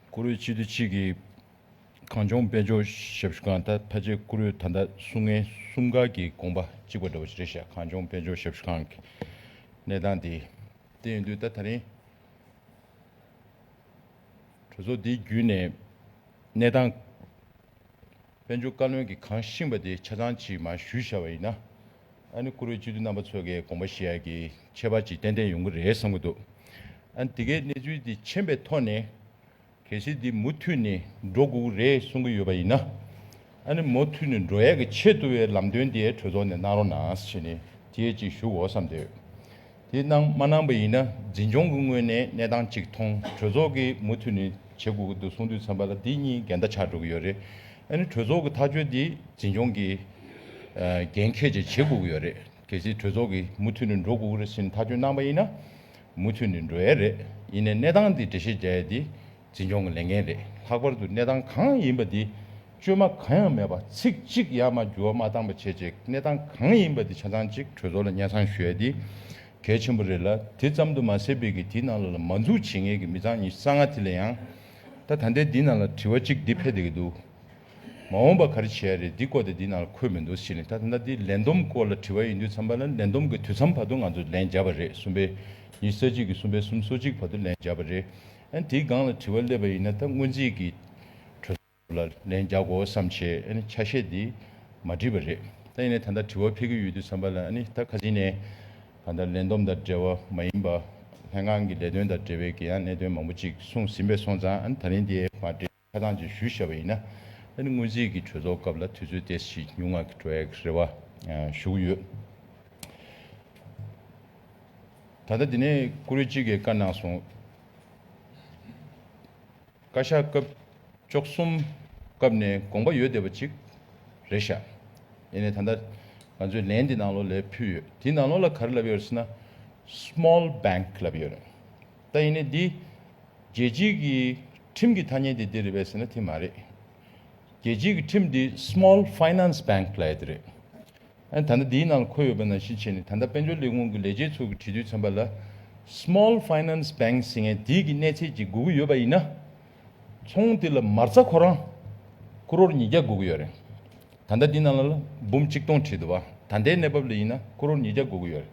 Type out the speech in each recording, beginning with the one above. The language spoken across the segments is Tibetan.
བཀུར་འོས་སྤྱི་འཐུས་གཅིག་གིས་གངས་ལྗོངས་དཔལ་འབྱོར་ཞབས་ཞུ་ཁང་ད་ལྟ་ཆེད་བཀུར་འོས་ད་ལྟ་སུ་ངལ་གསུམ་ག་གི་དགོངས་པ་གཅིག་པ་འདྲ་བོ་ཞིག་རེད་བཞག་གངས་ལྗོངས་དཔལ་འབྱོར་ཞབས་ཞུ་ཁང་གི་གནས་སྟངས་དེ་དེ་ཡིན་དུས་ད་ད་རིང་གྲོས་ཚོགས་འདིའི་བརྒྱུད་ནས་གནས་སྟངས་དཔལ་འབྱོར་བཀའ་བློན་གྱིས་གང་བཞིན་པ་དེ་ཆ་ཚང་གཅིག་མ་ཞུས་བཞག་པ་ཡིན་ན། ཨ་ནི་བཀུར་འོས་སྤྱི་འཐུས་རྣམ་པ་ཚོ་གའི་དགོངས་པ་ཞེ་ཡག་གི་ཁྱད་པར་ཅིག་ཏན་ཏན་ཡོང་གི་རེད་བསམ་གྱི་འདུག་ཨ་ནི་དེ་གའི་གནས་ཚུལ་དེ་མཁྱེན་པའི་ཐོག་ནས། གལ་སྲིད་འདི་མུ་མཐུད་ནས་འགྲོ་དགོས་ཀྱི་རེད་གསུང་གི་ཡོད་པ་ཡིན་ན། ཨ་ནི་མུ་མཐུད་ནས་འགྲོ་ཡག་གི་ཆེད་དུ་བའི་ལམ་སྟོན་དེ་གྲོས་ཚོགས་ནས་གནང་རོགས་གནང་ཞེས་ནས་དེ་ཅིག་ཞུ་དགོས་བསམ་འདོད། དེ་གནང་མ་གནང་བ་ཡིན་ན་འཛིན་སྐྱོང་གི་ངོས་ནས་གནས་སྟངས་གཅིག་མཐོང་གྲོས་ཚོགས་ཀྱིས་མུ་མཐུད་ནས་བྱེད་དགོས་ཀྱི་འདུག་གསུང་དུས་མཚམས་པ་ལ་དེ་གཉིས་འགལ་ཟླ་ཆགས་འགྲོ་གི་ཡོད་རེད། ཨ་ནི་གྲོས་ཚོགས་ཀྱི་ཐག་གཅོད་དེ་འཛིན་སྐྱོང་གིས་འགན་ཁྱེད་ཀྱིས་བྱེད་དགོས་ཀྱི་ཡོད་རེད། གལ་སྲིད་གྲོས་ཚོགས་ཀྱིས་མུ་མཐུད་ནས་འགྲོ་དགོས་ཀྱི་རེད་ཟེར་ནས་ཐག་གཅོད་གནང་བ་ཡིན་ན་མུ་མཐུད་ནས་འགྲོ་ཡས་རེད། ཡིན་ནས་གནས་སྟངས་དེ་འགྲེལ་བཤད་རྒྱག་ཡས་དེ། འཛིན་སྐྱོང་གི་ལས་འགན་རེད་ལྷག་པར་དུ་གནས་སྟངས་གང་ཡིན་པ་འདི་བཅོས་མ་གང་ཡང་མེད་པ་ཚིག་གཅིག་ཡ་མ་འགྱུར་བ་མ་བཏང་པ་བྱེད་ཅིག་གནས་སྟངས་གང་ཡིན་པ་འདི་ཆ་ཚང་གཅིག་གྲོས་ཚོགས་ལ་སྙན་གསང་ཞུ་ཡ་འདི་གལ་ཆེན་པོ་རེད་ལ་དེ་ཙམ་དུ་མ་ཟད་པའི་གི་དེའི་ནང་ལ་ལ་མ་འཛུགས་བྱེད་ངེས་གི་མི་ཚང་ཉི་ས་ང་དེ་ལ་ཡང་ད་ད་ལྟའི་འདི་ནང་ལ་དྲི་བ་གཅིག་འདི་ཕེབས་དེ་གི་འདུག་མ་འོངས་པ་ག་རེ་བྱེད་ཡ་རེད་འདི་སྐོར་དེ་འདི་ནང་ལ་འཁོད་མི་འདུག་ཟེར་ནས་ད་ད་ད་འདི་ལན་འདུམ་སྐོར་ལ་དྲི་བ་ཡིན་དུས་འཚམ་པ་ལ་ལན་འདུམ་གི་དུས་འཚམ་བར་དུ་ང་ཚོ་ལན་བརྒྱབ་པ་རེད་གསུམ་པའི་ཉི་ས་གཅིག་གི་གསུམ་པའི་གསུམ་སོ་གཅིག་བར་དུ་ལན་བརྒྱབ་པ་རེད་དེའི་སྒང་ལ་དྲི་བ་སླེབས་པ་ཡིན་ན་ད་སྔོན་རྩིས་ཀྱི་གྲོས་ཚོགས་ལ་ལན་རྒྱག་དགོས་བསམ་བྱས་ཆ་ཤས་དེ་མ་བྲིས་པ་རེད། ད་ཡིན་ནས་ད་ལྟ་དྲི་བ་འཕེལ་གྱི་ཡོད་དུས་བསམ་པ་ལ་ད་ག་ཟིག་ནས་གང་ལྟར་ལན་འདོམས་དང་འབྲེལ་བ་མ་ཡིན་པ། ལྷན་ཁང་གི་ལས་དོན་དང་འབྲེལ་བའི་དགེ་ཡངས་གནད་དོན་མང་པོ་ཅིག་གསུངས་ཟིན་པས་སོང་ཙང་ད་རིང་དེ་མ་འབྲེལ། ཁ་ཐང་ཅིག་ཞུ་བཞེས་པ་ཡིན་ན། ཨ་ནི་སྔོན་རྩིས་ཀྱི་གྲོས་ཚོགས་སྐབས་ལ་དུས་ཚོད་དེ་བཞིན་ཉུང་ངག་གི་འགྲོ་ཡག་རེད་བ་ཞུ་གི་ཡོད། ད་ལྟ་འདི་ནས་བཀུར་འོས་གཅིག་གིས་བཀའ་གནང་སོང། བཀའ་ཤག་སྐབས་བཅོ་གསུམ་སྐབས་ནས་དགོངས་པ་ཡོད་བསྡད་པ་གཅིག་རེད་བཞག་ཡེ་ནས་ད་ལྟ་ང་ཚོས་ལན་འདི་ནང་ལོགས་ལས་ཕུལ་ཡོད་དེའི་ནང་ལོགས་ལ་ག་རེ་ལབ་ཡོད་རེད་ཟེར་ན། Small Bank ལབ་ཡོད་རེད། ད་ཡིན་ནའི་འདི། རྒྱལ་སྤྱིའི་གི་ཁྲིམས་ཀྱི་ཐ་སྙད་དེ་འདི་རེད་བས་ཟེར་ན་དེ་མ་རེད། རྒྱལ་སྤྱིའི་གི་ཁྲིམས་འདི Small Finance Bank ལ་ཡ་དེ་རེད། ཨན་ད་ལྟ་འདིའི་ནང་ལ་འཁོད་ཡོད་པ་ནང་བཞིན་བྱས་ནས་ད་ལྟ་དཔལ་འབྱོར་ལས་ཁུངས་གི་ལས་བྱེད་ཚོ་གི་དྲི་དུས་ཚན་པ་ལ Small Finance Bank ཟེར་མཁན་དེའི་གི་གནས་ཚད་ཅིག་དགོས་གི་ཡོད་པ་ཡིན་ན། ཚོང་དེ་ལ་མར་རྩ་ཁོ་རང། Crore ཉིས་བརྒྱ་དགོས་གི་ཡོད་རེད། ད་ལྟ་འདི་ནང་ལ་ལ་འབུམ་གཅིག་སྟོང་ཁྲི་དུ་བ་ད་ལྟའི་གནས་བབ་ལ་ཡིན་ན Crore ཉིས་བརྒྱ་དགོས་གི་ཡོད་རེད།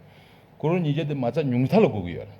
Crore ཉིས་བརྒྱ་དེ་མ་རྩ་ཉུང་མཐའ་ལ་དགོས་གི་ཡོད་རེད།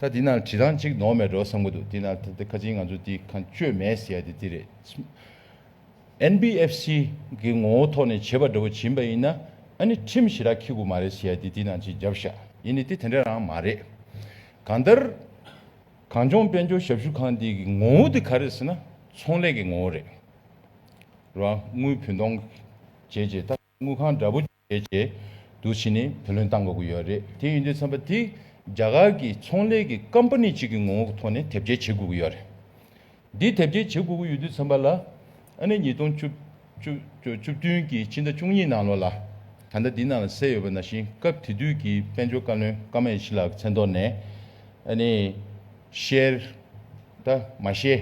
ད་འདི་ན་བྲིས་ཐང་གཅིག་ནོར་མེད་འགྲོ་བསམ་གྱི་འདུག་འདི་ན་ད་ཁ་ཆེའི་ང་ཚོ་འདི་གང་བཅོས་མེད་ཟེར་ཡ་དེ་འདི་རེད་བསམ། NBFC། གི་ངོ་བོ་ཐོག་ནས་བྱེད་པ་འདྲ་བོ་བྱིན་པ་ཡིན་ན་ཨ་ནི་ཁྲིམས་ཞི་རག་འཁྱི་དགོས་མ་རེད་ཟེར་ཡ་དེ་འདི་ན་གཅིག་རྒྱབ་བཞག་ཡིན་ནི་དེ་དེ་འདྲ་རང་མ་རེད། གང་ལྟར། གངས་ལྗོངས་དཔལ་འབྱོར་ཞབས་ཞུ་ཁང་འདི་གི་ངོ་བོ་དེ་ག་རེད་ཟེར་ན་ཚོང་ལས་ཀྱི་ངོ་བོ་རེད། རོགས་དངུལ་བུན་གཏོང་བྱས་རྗེས་ད་དངུལ་ཁང་འདྲ་བོ། བྱས་ཀྱི་འདུག་ཕྱིན་ནས་བུ་ལོན་གཏང་དགོས་ཀྱི་ཡོད་རེད་དེ་ཡིན་དུས་ཚན་པ་དེས་རྒྱ་གར་གྱི་ཚོང་ལས་ཀྱི་ཀམ་པ་ནི་གཅིག་གི་ངོ་བོ་གི་ཐོག་ནས་དེབ་སྐྱེལ་བྱེད་དགོས་ཀྱི་ཡོད་རེད་འདི་དེབ་སྐྱེལ་བྱེད་དགོས་ཀྱི་ཡོད་དུས་ཚན་པ་ལ་ཨ་ནི་ཉིས་སྟོང་བཅུ་བཅུ་བདུན་གྱི་ཕྱི་ཟླ་བཅུ་གཉིས་ནང་ལོ་ལ་ད་ལྟ་འདི་ནང་ལ་གསལ་ཡོད་པ་ན་བཞིན་སྐབས་དེ་དུས་ཀྱི་དཔལ་འབྱོར་བཀའ་བློན་ཀམ་ཨེ་ཤི་ལགས་ཀྱི་མཚན་ཐོག་ནས་ཨ་ནི་བཤེར་ད་མ་བཤེར།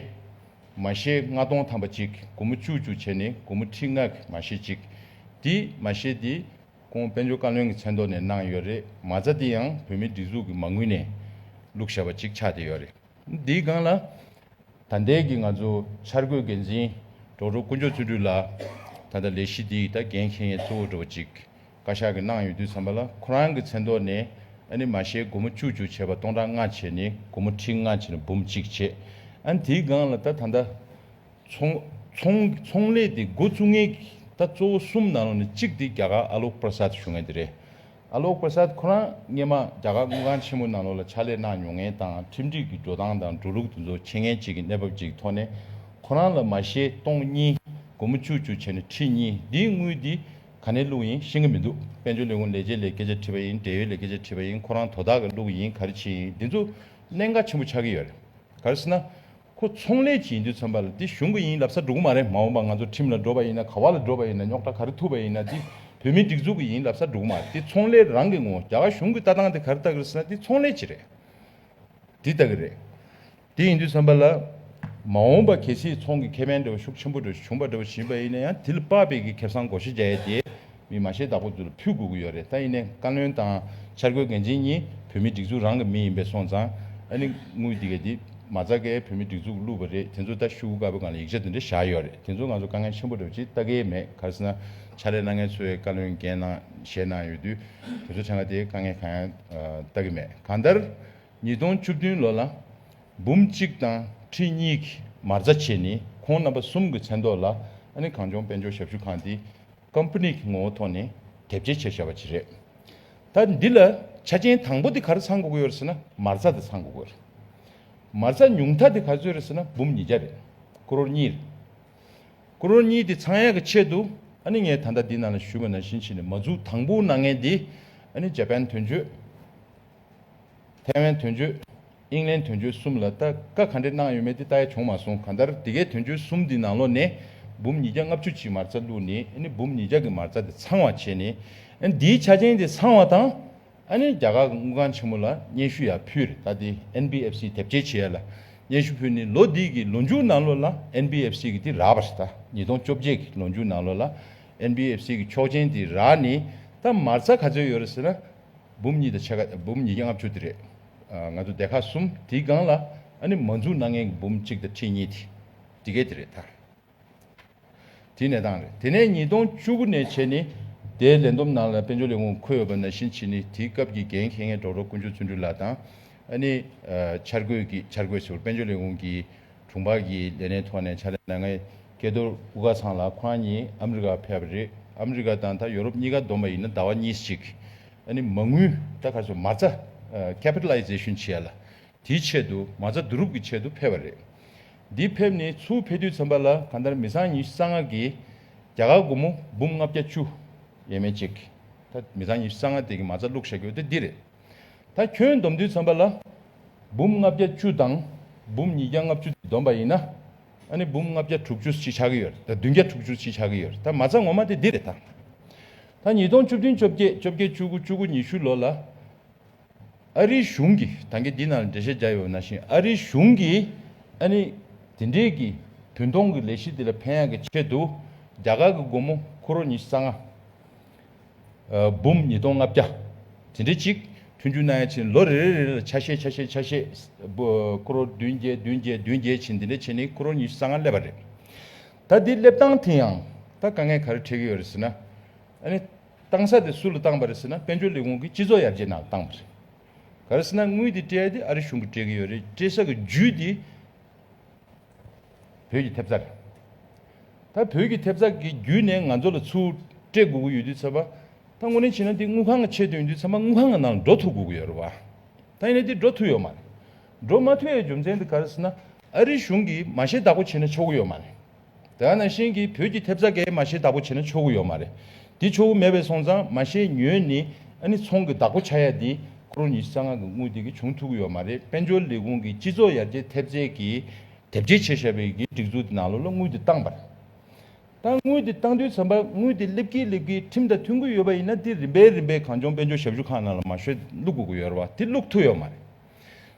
མ་ཤེས་ལྔ་སྟོང་ཐམ་པ་གཅིག་དགུ་མོ་བཅུ་བཅུ་བྱས་ནས་དགུ་མོ་ཁྲི་ལྔ་གི་མ་ཤེས་གཅིག་དེ་མ་ཤེས་དེ། ཁོང་དཔལ་འབྱོར་བཀའ་བློན་གྱི་མཚན་ཐོག་ནས་གནང་ཡོད་རེད་མ་རྩ་དེ་ཡང་བོད་མིའི་སྒྲིག་འཛུགས་ཀྱི་མ་དངུལ་ནས་བླུགས་བཞག་པ་གཅིག་ཆགས་བསྡད་ཡོད་རེད་དེའི་སྒང་ལ། ད་ལྟའི་གི་ང་ཚོ་འཆར་འགོད་འགན་འཛིན་གྲོགས་གྲོགས་དཀོན་མཆོག་བརྩོན་འགྲུས་ལགས་ད་ལྟ་ལས་གཞི་དེའི་ད་འགན་འཁྱེར་མཁན་གཙོ་བོ་གྲོགས་པོ་གཅིག་བཀའ་ཤག་གི་གནང་ཡོད་དུས་བསམ་པ་ལ་ཁོ་རང་གི་མཚན་ཐོག་ནས་ཨ་ནི་མ་ཤའི་སྒོར་མོ་བཅུ་བཅུ་བྱས་པ་སྟོང་ཕྲག་ལྔ་བྱས་ནས་སྒོར་མོ་ཁྲི་ལྔ་བྱས་ནས་འབུམ་གཅིག་བྱས་ཨ་ནི་དེའི་སྒང་ལ་ད་ད་ལྟ་ཚོང་ལས་དེ་འགོ་བཙུགས་ངེས་ད་གཙོ་བོ་གསུམ་ནང་ལོགས་ནས་གཅིག་དེ་རྒྱ་གར་ཨ་ལོག་པར་སཱ་ཐི་ཞུ་ངེས་དེ་རེད་ཨ་ལོག་པར་སཱ་ཐི་ཁོ་རང་སྔན་མ་རྒྱ་གར་དངུལ་ཁང་ཆེན་མོ་ནང་ལོགས་ལ་ཕྱག་ལས་གནང་མྱོང་ངེས་དང་ཁྲིམས་སྒྲིག་གི་འགྲོ་སྟངས་དང་འགྲོ་ལུགས་དེ་ཚོ་མཁྱེན་མཁན་གཅིག་གི་གནས་བབ་ཅིག་ཐོག་ནས་ཁོ་རང་ལ་མ་ཤའི་སྟོང་གཉིས་སྒོར་མོ་བཅུ་བཅུ་བྱས་ནས་ཁྲི་གཉིས་དེའི་དངུལ་དེ་ག་ནས་བླུགས་ཡིན་ཤེས་གི་མི་འདུག་དཔལ་འབྱོར་ལས་ཁུངས་ལས་བྱེད་ལས་སྐད་ཆ་དྲིས་པ་ཡིན་འབྲེལ་ཡོད་ལས་སྐད་ཆ་དྲིས་པ་ཡིན་ཁོ་རང་དོ་བདག་གི་བླུགས་ཡིན་ག་རེ་བྱས་ཡིན་འདི་ཚོ་གནད་འགག་ཆེན་པོ་ཆགས་ཀྱི་ཡོད་རེད་ག་རེ་ཟེར་ན། ཁོ་ཚོང་ལས་ཀྱི་ཡིན་དུས་ཚོན་པ་ལ་འདི་གཞུང་གི་ཡིན་ལབ་ས་འགྲོ་གི་མ་རེད་མ་འོངས་པ་ང་ཚོ་ཁྲིམས་ལ་འགྲོ་བ་ཡིན་ན་ག་བ་ལ་འགྲོ་བ་ཡིན་ན་རྙོག་དྲ་ག་རེ་ཐུག་པ་ཡིན་ན་འདི་བོད་མིའི་སྒྲིག་འཛུགས་ཀྱི་ཡིན་ལབ་ས་འགྲོ་གི་མ་རེད་འདི་ཚོང་ལས་རང་གི་ངོ་རྒྱ་གར་གཞུང་གི་ལྟ་སྟངས་དེ་ག་རེ་ལྟ་གི་རེད་ཟེར་ན་འདི་ཚོང་ལས་ཀྱི་རེད་འདི་ལྟ་གི་རེད། དེ་ཡིན་དུས་བསམ་པ་ལ། མ་འོངས་པ་གལ་སྲིད་ཚོང་གི་ཁེ་ཕན་འབྲེལ་བ་ཤུགས་ཆེན་པོ་འགྲོ་བཞིན་པ་ཡིན་ན་ཡང་དེ་ལ་དཔག་པའི་གི་ཁེ་བཟང་སྒོ་ཤེས་རྒྱ་ཡས་དེ་མི་མ་ཤེས་བདག་པོ་ཚོ་ལ་ཕུལ་དགོས་ཀྱི་ཡོད་རེད་ད་ཡིན་ནའི་བཀའ་བློན་དང་འཆར་འགོད་འགན་འཛིན་གཉིས་བོད་མི་སྒྲིག་འཛུགས་རང་གི་མི་ཡིན་པས་སོང་ཙང་ཨ་ནི་དངུལ་དེ་གས་དེ་མ་རྩ་གས་བོད་མི་སྒྲིག་འཛུགས་བླུས་པ་རེད་དེ་ཚོ་ལྟ་ཤུགས་དཀའ་བའི་སྒང་ལ་ཡིག་ཆ་དེ་འདྲ་བཞག་ཡོད་རེད་དེ་ཚོ་ང་ཚོ་དཀའ་ངལ་ཆེན་པོ་འགྲོ་ཅི་ལྟ་གས་མེད་ག་སྲིད་ན་ཕྱག་ལས་གནང་མཁན་ཚོའི་བཀའ་བློན་འགན་གནང་བཞེས་གནང་ཡོད་དུས་དེ་ཚོ་ཕྲན་ག་དེ་དཀའ་ངལ་གང་ཡང་ལྟ་གི་མེད་གང་ལྟར། ཉིས་སྟོང་བཅུ་བདུན་ལོ་ལ་འབུམ་གཅིག་དང་ཁྲི་གཉིས་ཀྱི་མ་རྩ་ཕྱེས་ནས་ཁོང་རྣམ་པ་གསུམ་གྱི་མཚན་ཐོག་ལ་ཨ་ནི་གངས་ལྗོངས་དཔལ་འབྱོར་ཞབས་ཞུ་ཁང་དེ Company གྱི་ངོ་བོ་ཐོག་ནས་དེབ་སྐྱེལ་བྱས་བཞག་པ་ཅིག་རེད། ད་འདི་ལ་ཆ་རྐྱེན་དང་པོ་དེ་ག་རེ་ཚང་དགོས་ཀྱི་ཡོད་རེད་ཟེར་ན་མ་རྩ་དེ་ཚང་དགོས་ཀྱི་རེད། མ་རྩ་ཉུང་མཐའ་དེ་ག་ཚོད་རེད་ཟེར་ན་འབུམ་ཉིས་བརྒྱ་རེད། Crore གཉིས་རེད། Crore གཉིས་དེ་ཚང་ཡག་གི་ཆེད་དུ་ཨ་ནི་ངས་ད་ལྟ་འདི་ནང་ལ་ཞུས་པ་ནང་བཞིན་བྱས་ནས་མ་འཛུགས་དང་པོ་ནང་ངས་འདི་ཨ་ནི Japan དོན་གཅོད་ཐའེ་ཝན་དོན་གཅོད། ཨིང་ལན་དོན་གཅོད་གསུམ་ལ་ལྟ་དཀའ་ག་འདྲེ་གནང་ཡོད་མེད་དེ་ལྟ་ཡ་བྱུང་མ་སོང་ག་འདར་དེ་གའི་དོན་གཅོད་གསུམ་དེ་ནང་ལོག་ནས་འབུམ་ཉིས་བརྒྱ་ལྔ་བཅུ་གཅིག་མར་རྩ་བླུག་ནས་ཨ་ནི་འབུམ་ཉིས་བརྒྱ་གི་མར་རྩ་དེ་ཚང་བ་བྱས་ནས་ཨ་ནི་དེའི་ཆ་ཅན་དེ་ཚང་བ་དང་ཨ་ནི་རྒྱ་གར་དངུལ་ཁང་ཆེན་མོ་ལ་སྙན་ཞུ་ཡ་ཕུལ་རེད་ད་དེ་ཨན་བྷི་ཨེབ་སི་དེབ་སྐྱེལ་བྱེད་ཡ་ལ་སྙན་ཞུ་ཕུལ་ནས་ལོ་དེའི་གི་ལོ་མཇུག་ནང་ལོག་ལ་ཨན་བྷི་ཨེབ་སི་གི་དེ་རག་པ་རེད་ད་ཉིས་སྟོང་བཅོ་བརྒྱད་གི་ལོ་མཇུག་ནང་ལོག་ལ་ཨན་བྷི་ཨེབ་སི་གི་ཆོག་ཅན་དེ་རག་ནས་ད་མར་རྩ་ག་ཚོད་ཡོད་རེད་ཟེར་ན། འབུམ་གཉིས་དང་ཕྱེད་ཀ་འབུམ་ཉིས་བརྒྱ་ལྔ་བཅུ་དེ་རེད། ང་ཚོ་སྡེ་ཁག་གསུམ་དེའི་སྒང་ལ་ནི་མ་འཛུགས་ན་ངན་གྱི་འབུམ་གཅིག་དང་ཁྲི་གཉིས་དེ་དེ་གས་དེ་རེད་ད། དེ་ནད་སྟངས་རེད། དེ་ནས་ཉིས་སྟོང་བཅུ་དགུ་ནས་བྱས་ནི་དེའི་ལས་འདོམས་ནང་ལ་དཔལ་འབྱོར་ལས་ཁུངས་འཁོད་ཡོད་པ་ནང་བཞིན་བྱས་ནི་དེའི་སྐབས་ཀྱི་འགན་འཁེལ་མཁན་གྲོགས་རོགས་ཀུན་ཆོས་བརྩོན་འགྲུས་ལགས་དང། ནི་འཆར་འགོད་ཀྱི་འཆར་འགོད་ཟེར་བ་དཔལ་འབྱོར་ལས་ཁུངས་ཀྱི། དྲུང་འཕར་གྱིས་ལས་གནས་ཐོག་ནས་ཕྱག་ལས་གནང་མཁན་སྐལ་རྡོར་ཀུ་ཀ་ཚང་ལགས་ཁོ་རང་གཉིས་ཨ་མི་རི་ཀར་ཕེབས་པ་རེད། ཨ་མི་རི་ཀ་དང་ད་ཡོ་རོབ་གཉིས་ཀ་བསྡོམས་པ་ཡིན་ན་ཟླ་བ་གཉིས་གཅིག་ཨ་ནི་མ་དངུལ་ད་ག་ཚོད་མ་རྩ། Capitalization། བྱས་ལ་དེའི་ཆེད་དུ་མ་རྩ་བསྡུ་རུབ་ཀྱི་ཆེད་དུ་ཕེབས་པ་རེད། འདི་ཕེབས་ནས་ཚུར་ཕེབས་དུས་མཚམས་པ་ལ་གང་ལྟར་མི་ཚང་ཉི་ཤུ་རྩ་ལྔ་གིས་རྒྱ་གར་སྒོར་མོ་འབུམ་ལྔ་བརྒྱ་བཅུ་ཡས་མས་ཅིག་ད་མི་ཚང་ཉི་ཤུ་རྩ་ལྔ་དེ་གི་མ་རྩ་བླུགས་བཞག་རྒྱུ་དེ་འདི་རེད། ད་ཁྱོད་སྡོམ་དུས་ཚན་པ་ལ་འབུམ་ལྔ་བརྒྱ་བཅུ་དང་འབུམ་ཉིས་བརྒྱ་ལྔ་བཅུ་སྡོམ་པ་ཡིན་ན། ནི་འབུམ་ལྔ་བརྒྱ་དྲུག་ཅུ་ཅིག་ཆགས་ཀྱི་ཡོད་རེད་ད་བདུན་བརྒྱ་དྲུག་ཅུ་ཅིག་ཆགས་ཀྱི་ཡོད་རེད་ད་མ་རྩ་ངོ་མ་དེ་འདི་རེད་ད། ད་ཉིས་སྟོང་བཅུ་བདུན་བཅོ་བརྒྱད་བཅོ་བརྒྱད་བཅུ་དགུ་བཅུ་དགུ་ཉི་ཤུ་ལོ་ལ། ཨ་རིའི་གཞུང་གིས་ད་གེ་འདི་ན་ལ་འགྲེལ་བཤད་རྒྱག་ཡོད་ན་བཞིན་ཨ་རིའི་གཞུང་གིས་ནི། དེ་འབྲེལ་གྱི་བུན་གཏོང་གི་ལས་གཞི་དེ་ལ་ཕན་ཡག་གི་ཆེད་དུ་རྒྱ་གར་གྱི་སྒོར་མོ་ཁོ་རོ་ཉི་ཤུ་རྩ་ལྔ། འབུམ་ཉིས་སྟོང་ལྔ་བརྒྱ། དེ་འདྲའི་གཅིག། མཐུན་འགྱུར་གནང་ཡ་ཕྱིན་ལོ་རེ་རེ་རེ་ལ་ཆ་ཤས་ཆ་ཤས་ཆ་ཤས། ཀོརོར་བདུན་བརྒྱད་བདུན་བརྒྱད་བདུན་བརྒྱད་ཕྱིན་དེ་འདྲའི་ཕྱིན་ནི་ཀོརོར་ཉི་ཤུ་རྩ་ལྔ་སླེབས་པ་རེད། ད་འདི་སླེབས་སྟངས་དེ་ཡང་ད་དཀའ་ངལ་ག་རེ་འཕྲད་ཀྱི་ཡོད་རེད་ཟེར་ན། ཨ་ནི། བཏང་ས་དེ་སུ་ལ་བཏང་པ་རེད་ཟེར་ན་དཔལ་འབྱོར་ལས་ཁུངས་ཀྱི་སྤྱི་ཚོགས་ཡར་རྒྱས་ནང་ལ་བཏང་པ་རེད། ག་རེ་ཟེར་ན་དངུལ་དེ་སྤྲད་དེ་ཨ་རི་གཞུང་གིས་སྤྲད་ཀྱི་ཡོད་རེད་སྤྲད་ས་གི་རྒྱུ་དེ། བོད་ཀྱི་ཐེབས་རྩ་རེད། ད་བོད་ཀྱི་ཐེབས་རྩ་གི་རྒྱུད་ནས་ང་ཚོ་ལ་ཚུར་སྤྲད་དགོས་ཀྱི་ཡོད་དུས་ཚོད་པ། ད་ངོ་ནས་བྱིན་ན་འདི་དངུལ་ཁང་ལ་ཆད་དུས་འདུས་ཚོད་པ་དངུལ་ཁང་གི་ནང་ལ་འགྲོ་ཐུབ་དགོས་ཀྱི་ཡོད་རེད་བ། ད་ཡིན་ན་འདི་འགྲོ་ཐུབ་ཡོད་མ་རེད། འགྲོ་མ་ཐུབ་ཡའི་རྒྱུ་མཚན་འདི་ག་རེད་ཟེར་ན། ཨ་རིའི་གཞུང་གིས་མ་ཤེས་བདག་པོ་བྱེད་ན་ཆོག་གི་ཡོད་མ་རེད། དེ་ག་ནང་བཞིན་གྱི་བོད་ཀྱི་ཐེབས་རྩ་འགའི་མ་ཤེས་བདག་པོ་བྱེད་ན་ཆོག་གི་ཡོད་མ་རེད། དེ་ཆོ་བོ་མེད་པའི་སོང་ཙང་མ་ཤེས་ཉོན་ནི་ཨ་ནི་ཚོང་གི་བདག་པོ་ཆ་ཡ་འདི་ཁོ་རོ་ཉི་ཤི་རྩ་སྔགས་ཀྱི་དངུལ་དེ་གི་བྱུང་ཐུག་གི་ཡོད་མ་རེད་དཔལ་འབྱོར་ལས་ཁུངས་ཀྱི་སྤྱི་ཚོགས་ཡར་རྒྱས་ཐེབས་རྩའི་གི་དེབ་ཅེས་བྱས་བཞག་པའི་གི་སྒྲིག་འཛུགས་དེ་ནང་ལོ་ལ་དངུལ་དེ་བཏང་པར་བཏང་དངུལ་དེ་བཏང་དུས་ཚན་པ་དངུལ་དེ་སླེབས་ཀི་སླེབས་ཀི་ཁྲིམས་དང་མཐུན་གི་ཡོད་པ་ཡིན་ན་དེ་རིམ་པས་རིམ་པས་གང་བྱུང་དཔལ་འབྱོར་ཞབས་ཞུ་ཁང་ནང་ལ་མ་ཤོད་བླུག་དགོས་གི་ཡོད་རེད་བ་དེ་བླུག་ཐུག་ཡོད་མ་རེད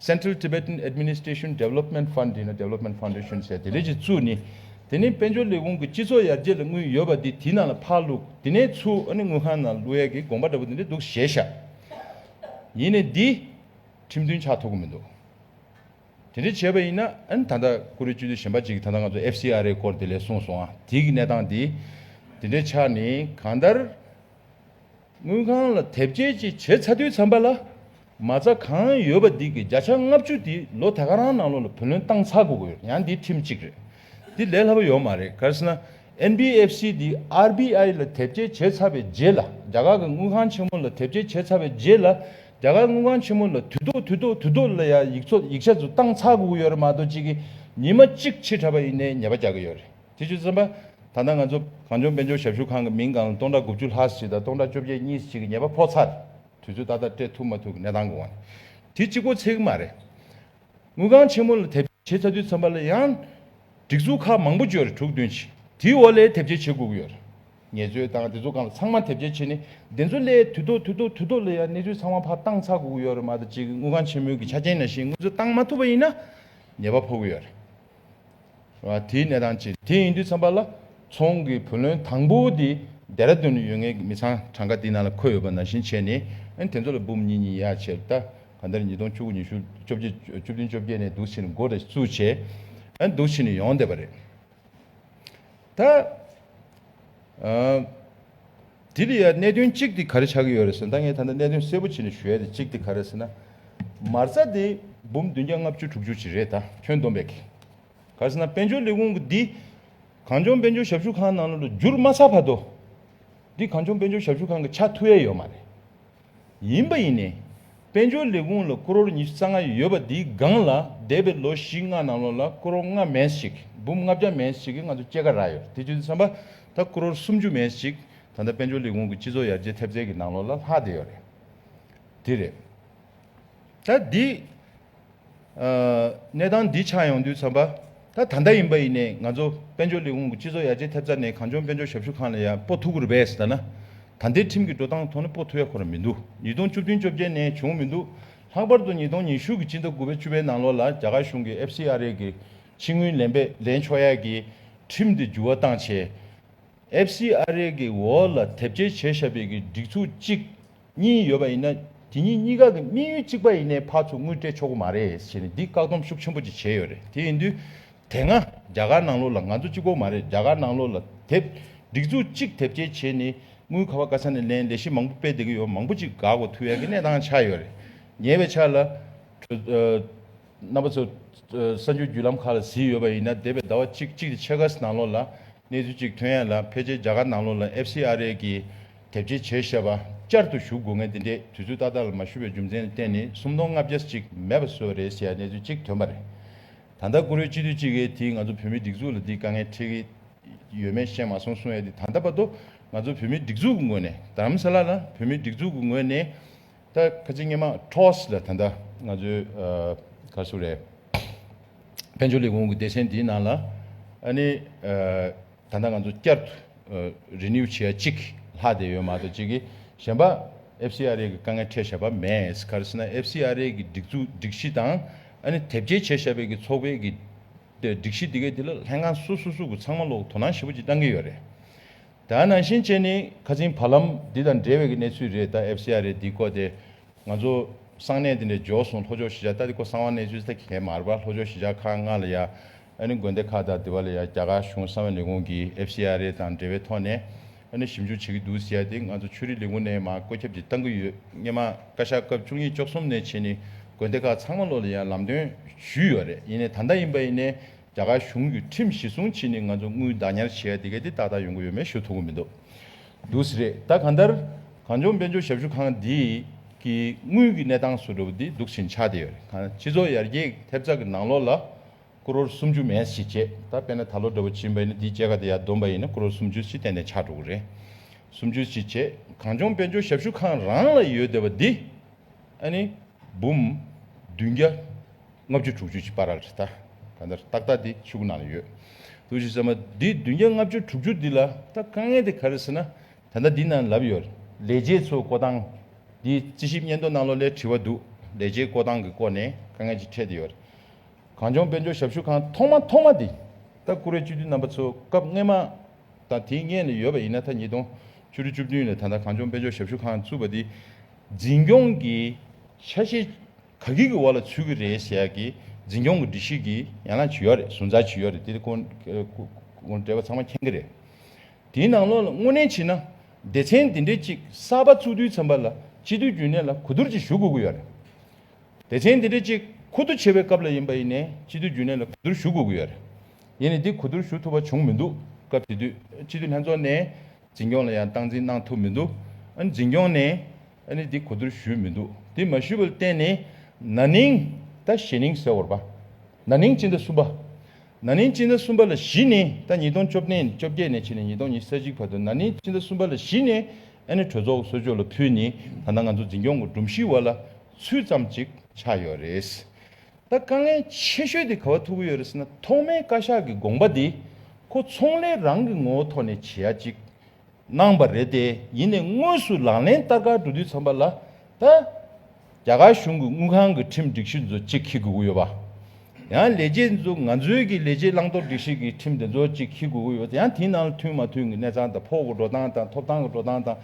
Central Tibetan Administration Development Fund ཡིན་ན Development Foundation ཟེར་དེ་ལས་ཀྱི་ཆུ་ནི། དེ་ནས་དཔལ་འབྱོར་ལས་ཁུངས་ཀྱི་སྤྱི་ཚོགས་ཡར་རྒྱས་ལ་དངུལ་ཡོད་པ་དེ་དེའི་ནང་ལ་ཕར་བླུགས་དེ་ནས་ཆུ་ཨ་ནི་དངུལ་ཁང་ནང་བླུགས་ཡས་ཀྱི་དགོངས་པ་འདྲ་པོ་དེ་འདྲ་འདུག་གཞལ་བྱ་ཡིན་ནས་འདི་ཁྲིམས་མཐུན་ཆགས་ཐུབ་ཀྱི་མི་འདུག་དེ་འདྲ་བྱས་པ་ཡིན་ན་ཨ་ནི་ད་ལྟ་ཀུ་རེ་བཅུ་དུས་གཞན་པ་ཅིག་ད་ལྟ་ང་ཚོ FCRA སྐོར་དེ་ལས་གསུངས་སོང་ཨ་དེའི་གནས་སྟངས་དེ་དེ་འདྲ་ཆགས་ནས་གང་ལྟར། དངུལ་ཁང་ལ་དེབ་སྐྱེལ་བཅས་བྱས་ཚར་དུས་འཚམ་པ་ལ། མ་རྩ་གང་ཡོད་པ་འདི་གི་བརྒྱ་ཆ་ལྔ་བཅུ་དེ་ལོ་ད་ག་རང་ནང་ལོགས་ལ་བུ་ལོན་བཏང་ཚར་དགོས་གི་ཡང་འདི་ཁྲིམས་གཅིག་རེད། འདི་ལས་སླ་པོ་ཡོད་མ་རེད་གལ་སྲིད་ན། NBFC འདི RBI ལ་དེབ་སྐྱེལ་བྱས་ཚར་བའི་རྗེས་ལ་རྒྱ་གར་གི་དངུལ་ཁང་ཆེན་མོ་ལ་དེབ་སྐྱེལ་བྱས་ཚར་བའི་རྗེས་ལ་རྒྱ་གར་དངུལ་ཁང་ཆེན་མོ་ལ་དུས་ཐོག་དུས་ཐོག་དུས་ཐོག་ལ་ཡང་ཡིག་ཚོགས་ཡིག་ཆ་ཚོ་བཏང་ཚར་དགོས་གི་ཡོད་རེད་མ་གཏོགས་གཅིག་གིས་ཉིན་མ་གཅིག་ཕྱིར་དྲག་པ་ཡིན་ནའི་ཉེས་པ་རྒྱག་གི་ཡོད་རེད། དྲི་ཆུ་གསུམ་པ། ད་ལྟ་ང་ཚོ་གངས་ལྗོངས་དཔལ་འབྱོར་ཞབས་ཞུ་ཁང་གི་མིང་གང་སྟོང་ཕྲག་དགུ་བཅུ་ལྷག་ཞིག་དང་སྟོང་ཕྲག་བཅོ་བརྒྱད་གཉིས་ཞིག་གི་ཉེས་པ་ཕོག་ཚར། དུས་ཚོད་ཏག་ཏག་སྤྲད་ཐུབ་མ་ཐུབ་ཀྱི་གནས་སྟངས་གོང་ནས་དེ་གཅིག་པོ་ཚིག་མ་རེད། དངུལ་ཁང་ཆེན་མོ་ལ་དེབ་སྐྱེལ་བྱེད་ཚར་དུས་མཚམས་པ་ལ་ཡང། སྒྲིག་འཛུགས་ཁག་མང་པོ་བཅོས་རེ་དྲུག་བདུན་ཕྱིན་དེའི་འོག་ལས་དེབ་སྐྱེལ་བྱེད་དགོས་ཀྱི་ཡོད། ངལ་རྩོལ་དང་སྒྲིག་འཛུགས་ཁང་ལ་ཚང་མ་དེབ་སྐྱེལ་བྱེད་ནི་བདེན་རྫུན་ལས་དུས་ཐོག་དུས་ཐོག་དུས་ཐོག་ལ་ཡང་གནས་ཚུལ་ཚང་མ་ཕར་བཏང་ཚར་དགོས་ཀྱི་ཡོད་རེད་མ་ད་གཅིག་དངུལ་ཁང་ཆེན་མོའི་གི་ཆ་རྐྱེན་ནང་བཞིན་དངུལ་རྩ་བཏང་མ་ཐུབ་པ་ཡིན་ན་ཉེས་པ་ཕོག་གི་ཡོད་རེད། དེའི་གནས་སྟངས་ཅི། དེ་ཡིན་དུས་ཚང་པ་ལ། ཚོང་གི་བུ་ལོན་དང་པོ་དེ་རྡེ་ར་དུན་ཡོད་ངེས་ཀྱི་མི་ཚང་གྲངས་ཀ་དེའི་ནང་ལ་འཁོད་ཡོད་པ་ནང་བཞིན་བྱས་ནས་དེ་ཚོ་ལ་འབུམ་གཉིས་གཉིས་ཡར་ཕྱེར་ད་ག་འདིར་ཉིས་སྟོང་བཅུ་དགུ་ཉི་ཤུ་བཅོ་བརྒྱད་བཅུ་བདུན་བཅོ་བརྒྱད་ནས་འདུག་ཕྱིར་མགོ་འདྲ་བཅུ་བྱས་འདུག་ཕྱིར་ནས་ཡོང་བསྡད་པ་རེད། ད། དེ་ལ་ཡང་གནད་དོན་གཅིག་དེ་ག་རེ་ཆགས་ཀྱི་ཡོད་རེད་ཟེར་ན་ད་ངས་ད་ལྟ་གནད་དོན་གསལ་པོ་བྱས་ནས་ཞུ་ཡ་དེ་གཅིག་དེ་ག་རེད་ཟེར་ན། མ་རྩ་དེ་འབུམ་བདུན་བརྒྱ་ལྔ་བཅུ་དྲུག་ཅུ་ཅིག་རེད་ད་ཁྱོན་བསྡོམས་པས། ག་ཟེར་ན་དཔལ་འབྱོར་ལས་ཁུངས་ཀྱི་འདི་གངས་ལྗོངས་དཔལ་འབྱོར་ཞབས་ཞུ་ཁང་ནང་ལོ་ལོ་བསྒྱུར་མ་ཚར་བར་དུ། འདི་གངས་ལྗོངས་དཔལ་འབྱོར་ཞབས་ཞུ་ཁང་གི་ཆ་མཐུ་ཡས་ཡོད་མ་རེད། ཡིན་པ་ཡིན། དཔལ་འབྱོར་ལས་ཁུངས་ལ་ཀོ་རོར་ཉི་ཤུ་རྩ་ལྔ་ཡོད་པ་འདིའི་སྒང་ལ་འདས་པའི་ལོ་བཞི་ལྔ་ནང་ལོགས་ལ་ཀོ་རོ་ལྔ་མེད་ཞིག་འབུམ་ལྔ་བརྒྱ་མེད་ཞིག་གི་ང་ཚོ་སྐྱེ་ཁ་རག་ཡོད་དེ་བརྗོད་དུ་འཚམ་པ་ད་ཀོ་རོར་སུམ་ཅུ་མེད་ཞིག་ད་ལྟ་དཔལ་འབྱོར་ལས་ཁུངས་ཀྱི་སྤྱི་ཚོགས་ཡར་རྒྱས་ཐེབས་རྩའི་གི་ནང་ལོགས་ལ་ལྷག་བསྡད་ཡོད་རེད་དེ་རེད། ད་འདི། གནས་སྟངས་འདི་ཆགས་ཡོང་དུས་ཚོད་པ་ད་ད་ལྟ་ཡིན་པ་ཡིན་ནས་ང་ཚོ་དཔལ་འབྱོར་ལས་ཁུངས་ཀྱི་སྤྱི་ཚོགས་ཡར་རྒྱས་ཐེབས་རྩ་ནས་གངས་ལྗོངས་དཔལ་འབྱོར་ཞབས་ཞུ་ཁང་ལ་ཡང་པོ་ཐུག་གུར་བས་ཟེར་ན་ད་ལྟའི་ཁྲིམས་ཀྱི་འགྲོ་སྟངས་ཐོག་ནས་པོ་ཐུག་ཡ་འཁོར་ར་མི་འདུག་ཉིས་སྟོང་བཅུ་བདུན་བཅོ་བརྒྱད་ནས་བྱུང་མི་འདུག་ལྷག་པར་དུ་ཉིས་སྟོང་ཉི་ཤུ་གི་སྤྱི་ཟླ་དགུ་བའི་བཅུ་བའི་ནང་ལོགས་ལ་རྒྱ་གར་གཞུང་གི FCRA གི་ཕྱི་དངུལ་ལེན་པས་ལེན་ཆོག་ཡ་གི་ཁྲིམས་དེ་འགྱུར་བ་བཏང་ཆེད FCRA གི་འོག་ལ་དེབ་སྐྱེལ་བྱེད་ཞབས་པའི་གི་སྒྲིག་ཚུགས་གཅིག་གཉིས་ཡོད་པ་ཡིན་ན་དེ་གཉིས་གཉིས་ཀ་གི་དམིགས་ཡུལ་གཅིག་པ་ཡིན་ནའི་བར་ཚོ་དངུལ་སྤྲད་ཆོག་གི་མ་རེད་ཞེས་ནས་འདིས་བཀག་སྡོམ་ཤུགས་ཆེན་པོ་ཅིག་བྱས་ཡོད་རེད་དེ་ཡིན་དུས། དེ་སྔ་རྒྱ་གར་ནང་ལོགས་ལ་ང་ཚོ་གཅིག་པོ་མ་རེད་རྒྱ་གར་ནང་ལོགས་ལ་དེབ་སྒྲིག་འཛུགས་གཅིག་དེབ་སྐྱེལ་བྱས་ནས་དངུལ་ག་བ་ག་ས་ནས་ལེན་ལས་གཞི་མང་པོ་སྤེལ་བསྡད་ཀྱི་ཡོད་མང་པོ་ཅིག་འགག་གོ་ཐུག་ཡ་གི་གནས་སྟངས་ཆགས་ཡོད་རེད་ཉེ་བའི་ཆར་ལ། རྣམ་པ་ཚོ་གསར་འགྱུར་བརྒྱུད་ལམ་ཁག་ལ་གཟིགས་ཡོད་པ་ཡིན་ན་འདས་པའི་ཟླ་བ་གཅིག་གཅིག་ཕྱེད་ཀ་ནང་ལོགས་ལ་གནས་ཚུལ་གཅིག་ཐོན་ཡ་ལ་ཕལ་ཆེར་རྒྱ་གར་ནང་ལོགས་ལ FCRA གི་དེབ་ཅེས་བྱས་བཤད་པ་བསྐྱར་དུ་ཞུ་དགོས་ངེས་འདི་འདྲས་དུས་ཚོད་ཏག་ཏག་ལ་མ་ཞུ་བའི་རྒྱུ་མཚན་གཏན་ནས་སུམ་སྟོང་ལྔ་བརྒྱ་ཅིག་མེད་པ་སོགས་རེད་ཟེར་ཡ་གནས་ཚུལ་གཅིག་དོན་པ་རེད། ད་ལྟ་བཀུར་འོས་སྤྱི་འཐུས་གཅིག་གིས་དེ་ང་ཚོ་བོད་མིའི་སྒྲིག་འཛུགས་ལ་འདི་དཀའ་ངལ་འཕྲད་ཀྱི་ཡོད་མེད་ཤེས་མ་སོང་གསུང་ཡ་དེ་ད་ལྟ་བར་དུ་ང་ཚོ་བོད་མིའི་སྒྲིག་འཛུགས་ཀྱི་ངོས་ནས་དམ་ས་ལ་ལ་བོད་མིའི་སྒྲིག་འཛུགས་ཀྱི་ངོས་ནས་ད་ཁ་ཆེ་སྙེ་མ Trust ལ་ད་ལྟ་ང་ཚོའི་ག་སུ་རེད་དཔལ་འབྱོར་ལས་ཁུངས་ཀྱི་སྡེ་ཚན་དེའི་ནང་ལ་ཨ་ནི་ད་ལྟ་ང་ཚོ་བསྐྱར་དུ Renew བྱེད་ཡ་གཅིག་གི་ལྷག་བསྡད་ཡོད་མ་གཏོགས་གཅིག་གིས་གཞན་པ FCRA གི་དཀའ་ངལ་འཕྲད་བཞག་པ་མེད། ག་རེ་ཟེར་ན FCRA གི་སྒྲིག་འཛུགས་སྒྲིག་གཞི་དང་ཨ་ནི་དེབ་སྐྱེལ་བྱེད་བཞག་པའི་གི་ཚོགས་པའི་གི་སྒྲིག་གཞི་དེ་གའི་དེ་ལ་ལྷན་ཁང་སོ་སོ་སོ་གི་ཚང་མ་ལོག་དོ་སྣང་ཞེ་པོ་གཅིག་གཏང་གི་ཡོད་རེད། ད་ནང་བཞིན་བྱས་ནི་ཁ་ཚིན་བར་ལམ་འདི་དང་འབྲེལ་བའི་གི་གནས་ཚུལ་རེད་ད FCRA འདི་བསྐོ་སྟེ་ང་ཚོ་གསང་གནས་དེ་འདྲས་འཇོག་སོང་ལྷོ་ཕྱོགས་གཞིས་ཆགས་ད་འདི་བསྐོ་གསང་བ་གནས་ཚུལ་ད་གི་གལ་མ་རེད་པ་ལྷོ་ཕྱོགས་གཞིས་ཆགས་ཁག་ལྔ་ལ་ཡ་ཨ་ནི་དགོན་སྡེ་ཁག་དང་དེ་བ་ལ་ཡང་རྒྱ་གར་གཞུང་གསང་བའི་ལས་ཁུངས་ཀྱི FCRA དང་འབྲེལ་བའི་ཐོག་ནས་ཨ་ནི་ཞིབ་འཇུག་བྱེད་ཀྱི་འདུག་ཟེར་ཏེ་ང་ཚོ་ཆོས་རིག་ལས་ཁུངས་ནས་མ་བཀོད་ཁྱབ་ཀྱིས་བཏང་གི་ཡོད་སྙེ་མ་བཀའ་ཤག་སྐབས་བཅུ་གཉིས་བཅུ་གསུམ་ནས་ཕྱིན་ནི་དགོན་སྡེ་ཁག་ཚང་མ་ལོ་ལ་ཡང་ལམ་སྟོན་ཞུས་ཡོད་རེད་ཡིན་ནས་ད་ལྟ་ཡིན་པ་ཡིན་ནས་རྒྱ་གར་གཞུང་གི་ཁྲིམས་གཞི་སྲུང་ཕྱིན་ནི་ང་ཚོ་དངུལ་བདག་ཉར་བྱེད་ཡ་དེ་གས་དེ་ཏག་ཏག་ཡོང་གི་ཡོད་མེད་ཞུ་ཐུབ་གི་མི་འདུག་འདུག་ཟེར་རེད་ད་གང་ལྟར་གངས་ལྗོངས་དཔལ་འབྱོར་ཞབས་ཞུ་ཁང་འདི་གི་དངུལ་གི་གནས་སྟངས་སུ་འགྲོ་བ་འདི་འདུག་ཕྱིན་ཆ་དེ་ཡོད་རེད་གངས་སྤྱི་ཚོགས་ཡར་རྒྱས་ཐེབས་རྩ་གི་ནང་ལོ་ལ། སྐུ་རོར་སུམ་ཅུ་མས་བཞི་བཅད་ད་དཔེ་ན་ད་ལོ་འདྲ་བོ་བྱིན་པ་ཡིན་ན་འདིའི་སྐྱེ་རྒ་དེ་ཡར་འདོན་པ་ཡིན་ན་སྐུ་རོར་སུམ་ཅུ་བཞི་བསྟན་ནས་ཕྱག་དྲུག་རེ་སུམ་ཅུ་བཞི་བཅད་གངས་ལྗོངས་དཔལ་འབྱོར་ཞབས་ཞུ་ཁང་རང་ལ་ཡོད་བསྡད་པ་འདི་ཨ་ནི་འབུམ་བདུན་བརྒྱ་ལྔ་བཅུ་དྲུག་ཅུ་ཅིག་པཱ་ར་རེད་ད་ག་འདར་ཏག་ཏག་འདི་ཕྱི་གུ་ནང་ལ་ཡོད་འདུག་ཅིག་ཟེར་མ་འདི་བདུན་བརྒྱ་ལྔ་བཅུ་དྲུག་ཅུ་འདི་ལ་ད་དཀའ་ངལ་དེ་ག་རེ་ཟེར་ན་ད་ལྟ་འདི་ན་ལབ་ཡོད་ལས་བྱེད་ཚོ་བསྐོ་སྟངས་འདི་རྩིས་ཞིབ་སྙན་ཐོ་གནང་ལོ་ལས་དྲི་བ་འདུག་ལས་བྱེད་བསྐོ་སྟངས་ཀྱི་སྐོར་ནས་དཀའ་ངལ་ཅིག་འཕྲད་དེ་ཡོད། གངས་ལྗོངས་དཔལ་འབྱོར་ཞབས་ཞུ་ཁང་ཐོག་མ་ཐོག་མ་དེ་ལྟ་སྐུ་རེ་བཅུ་བདུན་རྣམ་པ་ཚོ་སྐབས་སྔོན་མ་དང་དེའི་སྔས་ནས་ཡོད་པ་ཡིན་ན་ད་ཉིས་སྟོང་བཅུ་དྲུག་བཅུ་བདུན་ལས་ད་ལྟ་གངས་ལྗོངས་དཔལ་འབྱོར་ཞབས་ཞུ་ཁང་བཙུགས་པ་དེ་འཛིན་སྐྱོང་གི་ཆ་ཤས་ག་གི་གི་འོག་ལ་ཚུད་ཀྱི་རེད་ཟེར་གི་འཛིན་སྐྱོང་གི་སྒྲིག་གཞི་གི་ཡན་ལག་ཇི་ཡོད་རེད་ཟུར་འཛར་ཇི་ཡོད་རེད་དེ་སྐོར་འབྲེལ་བ་ཚང་མ་མཁྱེན་གྱི་རེད། དེའི་ནང་ལོགས་ལ་དངོས་གནས་ཕྱིན་ན་སྡེ་ཚན་འདི་འདྲའི་གཅིག་གསར་པ་བཙུགས་དུས་ཚན་པ་ལ་སྤྱི་འཐུས་རྒྱུན་ལས་ལ་གོ་བསྡུར་གྱིས་ཞུ་དགོས་ཀྱི་ཡོད་རེད། བདེ་ཆེན་འདི་རེད་ཅིག་ཁུ་དུ་བྱེད་པའི་སྐབས་ལ་ཡིན་པ་ཡིན་ནས་སྤྱི་འཐུས་རྒྱུན་ལས་ལ་གོ་བསྡུར་ཞུ་དགོས་ཀྱི་ཡོད་རེད། ཡིན་ནས་འདི་གོ་བསྡུར་ཞུ་ཐུབ་པ་བྱུང་མི་འདུག་སྐབས་དེ་དུས་སྤྱི་འཐུས་ལྷན་ཚོགས་ནས་འཛིན་སྐྱོང་ལ་ཡང་སྟངས་འཛིན་གནང་ཐུབ་མི་འདུག་ཨ་ནི་འཛིན་སྐྱོང་ནས་ཨ་ནི་འདི་གོ་བསྡུར་ཞུས་མི་འདུག་དེ་མ་ཞུས་པ་ལ་བརྟེན་ནས་ན་ནིང་ད་ཞེ་ནིང་ཟེར་བར་པ། ན་ནིང་སྤྱི་ཟླ་གསུམ་པ། ན་ནིང་སྤྱི་ཟླ་གསུམ་པ་ལ་གཞི་ནས་ད་ཉིས་སྟོང་བཅོ་བརྒྱད་བཅོ་བརྒྱད་ནས་ཕྱི་ལ་ཉིས་སྟོང་ཉིས་གསལ་གཅིག་བར་དུ་ན་ནིང་སྤྱི་ཟླ་གསུམ་པ་ལ་གཞི་ནས་ཨ་ནེ་གྲོས་ཚོགས་ཀྱི་གསོལ་ཅོག་ལ་ཕུལ་ནས་ད་ལྟ་ང་ཚོ་འཛིན་སྐྱོང་གི་སྒྲོམ་གཞིའི་བར་ལ་ཚུད་ཙམ་ཅིག་ཆགས་ཡོད་རེད། ད་དཀའ་ངལ་ཆེ་ཤོས་དེ་ག་བ་ཐུག་གི་ཡོད་རེད་ཟེར་ན་ཐོག་མའི་བཀའ་ཤག་གི་དགོངས་པ་དེ་ཁོ་ཚོང་ལས་རང་གི་ངོ་བོ་ཐོག་ནས་བྱེད་ཡ་ཅིག་གནང་བ་རེད་དེ་ཡིན་ནས་དངོས་སུ་ལག་ལེན་བསྟར་ག་འགྲོ་དུས་ཚང་པ་ལ་ད། རྒྱ་གར་གཞུང་གི་དངུལ་ཁང་གི་ཁྲིམས་སྒྲིག་གཞི་འཛོལ་ཅིག་ཁི་གུག་ཡོད་པ། ཡང་ལས་བྱེད་འཛུ་ང་འཛུལ་གྱི་ལས་བྱེད་བླང་དོར་སྒྲིག་གཞི་གི་ཁྲིམས་དེ་འཛོལ་ཅིག་ཁི་གུག་ཡོད་ཡང་དེའི་ནང་ལ་མཐུན་མ་མཐུན་གི་གནས་ཚང་དང་ཕོགས་གི་འགྲོ་སྟངས་དང་ཐོབ་ཐང་གི་འགྲོ་སྟངས་དང།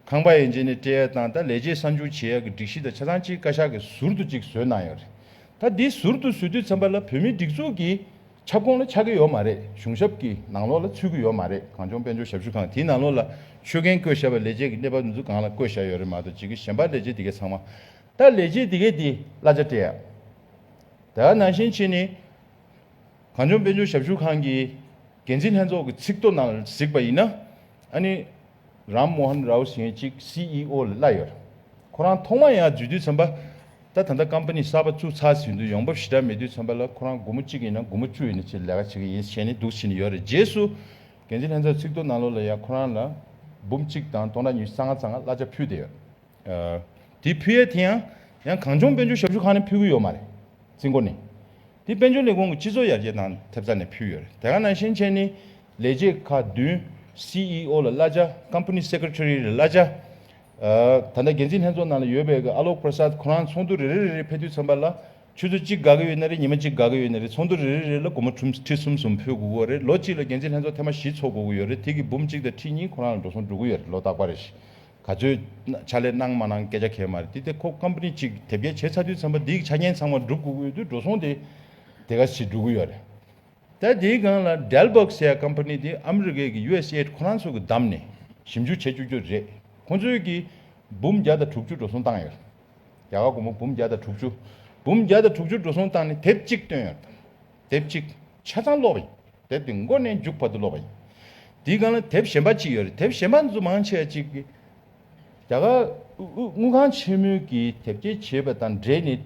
ཁང་པ་ཡན་ཆད་ནས་སྤྲད་ཡ་སྟངས་དང་ལས་བྱེད་གསར་འབྱོར་བྱེད་ཡ་གི་སྒྲིག་གཞི་དང་ཆ་ཚང་གཅིག་བཀའ་ཤག་གིས་ཟུར་དུ་ཅིག་བཟོས་གནང་ཡོད་རེད། ད་འདི་ཟུར་དུ་བཟོས་དུས་མཚམས་པ་ལ་བོད་མིའི་སྒྲིག་འཛུགས་ཀྱི། ཁྱབ་ཁོངས་ལ་ཆགས་ཀྱི་ཡོད་མ་རེད་གཞུང་ཞབས་ཀྱི་ནང་ལོགས་ལ་ཚུད་ཀྱི་ཡོད་མ་རེད་གངས་ལྗོངས་དཔལ་འབྱོར་ཞབས་ཞུ་ཁང་དེའི་ནང་ལོགས་ལ་ཆོད་མཁན་བསྐོས་བཞག་པ་ལས་བྱེད་ཀྱི་གནས་བབ་འདི་ཚོ་གང་ལ་བསྐོས་བཞག་ཡོད་རེད་མ་གཏོགས་ཇི་གི་ཞན་པ་ལས་བྱེད་འདི་གའི་ཚང་མ་ད་ལས་བྱེད་འདི་གའི་འདི་གླ་ཆ་སྤྲད་ཡག་ད་ནང་བཞིན་ཕྱིན་ནི་གངས་ལྗོངས་དཔལ་འབྱོར་ཞབས་ཞུ་ཁང་གི་འགན་འཛིན་ལྷན་ཚོགས་ཀྱི་ཚིག་ཐོ་ནང་ལ་གཟིགས་པ་ཡིན་ན་ཨ་ནི། རཱམ་མོཧན་རའོ་ཞེས་གཅིག CEO ལ་གླ་ཡོད། ཁོ་རང་ཐོག་མ་ཡང་འཇུས་དུས་ཚན་པ། ད་ད་ལྟ་ཀམ་པ་ནི་གསར་པ་བཙུགས་ཚར་ཟིན་དུས་ཡོང་འབབ་ཞེ་དྲག་མེད་དུས་ཚན་པ་ལ་ཁོ་རང་དགུ་མོ་གཅིག་ཡིན་ན་དགུ་མོ་བཅུ་ཡིན་ན་ཅེས་ལས་ཀ་བྱེད་ཀྱི་ཡིན་ཞེས་ནི་སྡུག་བྱེད་ནི་ཡོད་རེད་རྗེས་སུ། འགན་འཛིན་ལྷན་ཚོགས་ཚིག་ཐོ་ནང་ལོ་ལ་ཡང་ཁོ་རང་ལ། འབུམ་གཅིག་དང་སྟོང་ཕྲག་ཉི་ཤུ་རྩ་ལྔ་རྩ་ལྔ་གླ་ཆ་ཕུལ་བསྡད་ཡོད། དེ་ཕུལ་ཡས་དེ་ཡང། ཡང་གངས་ལྗོངས་དཔལ་འབྱོར་ཞབས་ཞུ་ཁང་ནས་ཕུལ་གི་ཡོད་མ་རེད། རྩིས་འགོ་ནི། དེ་དཔལ་འབྱོར་ལས་ཁུངས་ཀྱི་སྤྱི་ཚོགས་ཡར་རྒྱས་དང་ཐེབས་རྩ་ནས་ཕུལ་ཡོད། དེ་ག་ནང་བཞིན་ཅན་ནི། ལས་བྱེད་ཁག་བདུན། CEO། ལ་བླ་བྱ། Company Secretary། ལ་བླ་བྱ། ད་ལྟ་འགན་འཛིན་ལྷན་ཚོགས་ནང་ལ་ཡོད་པའི་ཀ Alok Prasad ཁོ་རང་ཚོགས་འདུ་རེ་རེ་རེ་རེའི་ཕེབས་དུས་ཚང་པ་ལ། ཆུ་ཚོད་གཅིག་དགའ་གི་ཡོད་ན་རེད་ཉི་མ་གཅིག་དགའ་གི་ཡོད་ན་རེད་ཚོགས་འདུ་རེ་རེ་རེ་ལ་སྒོར་མོ་ཁྲུམ་ཁྲི་གསུམ་གསུམ་ཕུལ་དགོས་གི་རེད་ལོ་གཅིག་ལ་འགན་འཛིན་ལྷན་ཚོགས་ཐེངས་མ་བཞི་འཚོགས་དགོས་གི་ཡོད་རེད་དེ་གི་འབུམ་གཅིག་དང་ཁྲི་གཉིས་ཁོ་རང་ལ་འགྲོ་སོང་འགྲོ་གི་ཡོད་རེད་ལོ་རྟག་པ་རེད། ག་ཚོད་ཕྱག་ལས་གནང་མ་གནང་སྐད་ཆ་གལ་མ་རེད་དེ་དེ་ཁོ་ཀམཔནི་གཅིག་དེབ་སྐྱེལ་བྱས་ཚར་དུས་ཚན་པ་འདིའི་ཆ་རྐྱེན་ཚང་མ་སྒྲུབ་དགོས་ཀྱི་ཡོད་དུས་འགྲོ་སོང་དེ་དེ་ག་ཞིག་སྒྲུབ་ཀྱི་ཡོད་རེད་ད་དེའི་སྒང་ལ Dalberg ཟེར་ཀམཔནི་དེ་ཨ་མི་རི་ཀའི་གི USAID ཁོ་རང་ཚོ་གི་བདམས་ནས་ཞིབ་འཇུག་བྱེད་བཅུག་རྒྱུ་རེད་ཁོ་ཚོའི་གི་འབུམ་བརྒྱ་དང་དྲུག་ཅུ་འགྲོ་སོང་བཏང་ཡོད་རེད་རྒྱ་གར་སྒོར་མོ་འབུམ་བརྒྱ་དང་དྲུག་ཅུ་འབུམ་བརྒྱ་དང་དྲུག་ཅུ་འགྲོ་སོང་བཏང་ནས་དེབ་གཅིག་བཏོན་ཡོད་རེད་དེབ་གཅིག་ཆ་ཚང་ཀློག་ཡིན། དེབ་དེ་མགོ་ནས་མཇུག་བར་དུ་ཀློག་པ་ཡིན། དེའི་སྒང་ལ་དེབ་གཞན་པ་གཅིག་ཡོད་རེད། དེབ་གཞན་པ་འདི་ཚོ་མང་ཆེ་བ་གཅིག། རྒྱ་གར་དངུལ་ཁང་ཆེན་མོའི་གིས་དེབ་སྐྱེལ་བྱེད་པ་དང་འབྲེལ་ནས།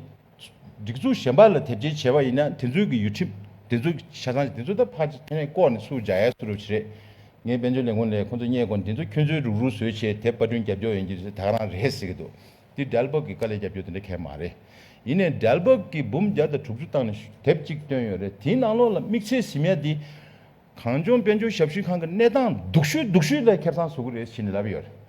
སྒྲིག་འཛུགས་གཞན་པ་ལ་དེབ་སྐྱེལ་བྱས་པ་ཡིན་ན་དེ་ཚོའི་གི་ཡུལ་ཁྲིམས་དེ་ཚོ་གི་ཆ་ཚང་ཞིག་དེ་ཚོ་ད་ཕར་ཚད་ནས་བཀོག་ནས་སུ་འཇགས་ཡས་སུ་རུབ་བྱེད་རེད། ངའི་དཔལ་འབྱོར་ལས་ཁུངས་ལས་ཁོང་ཚོ་རྙེད་དགོས་འདི་ཚོ་ཁྱོད་ཚོའི་རུག་རུག་བཟོས་བྱས་དེབ་པར་སྐྲུན་རྒྱབ་སྐྱོར་ཡོན་གྱི་ཚོད་ད་ག་རང་རེད་ཟེར་གི་འདུག་འདི་འབྲལ་འབབ་ཀྱི་དཀའ་ལས་རྒྱབ་སྐྱོར་དེ་འདྲ་ཁེག་མ་རེད། ཡིན་ནས་འབྲལ་འབབ་ཀྱི་འབུམ་བརྒྱ་དང་དྲུག་ཅུ་བཏང་ནས་དེབ་གཅིག་བཏོན་ཡོད་རེད་དེའི་ནང་ལོགས་ལ་དམིགས་བསལ་ཞིབ་གཉེར་དེ། གངས་ལྗོངས་དཔལ་འབྱོར་ཞབས་ཞུའི་ཁང་གི་གནས་སྟངས་སྡུག་ཤོས་སྡུག་ཤོས་ལས་ཁེབས་ཚང་བཟོ་གི་རེད་བཞིན་ལབ་ཡོད་རེད།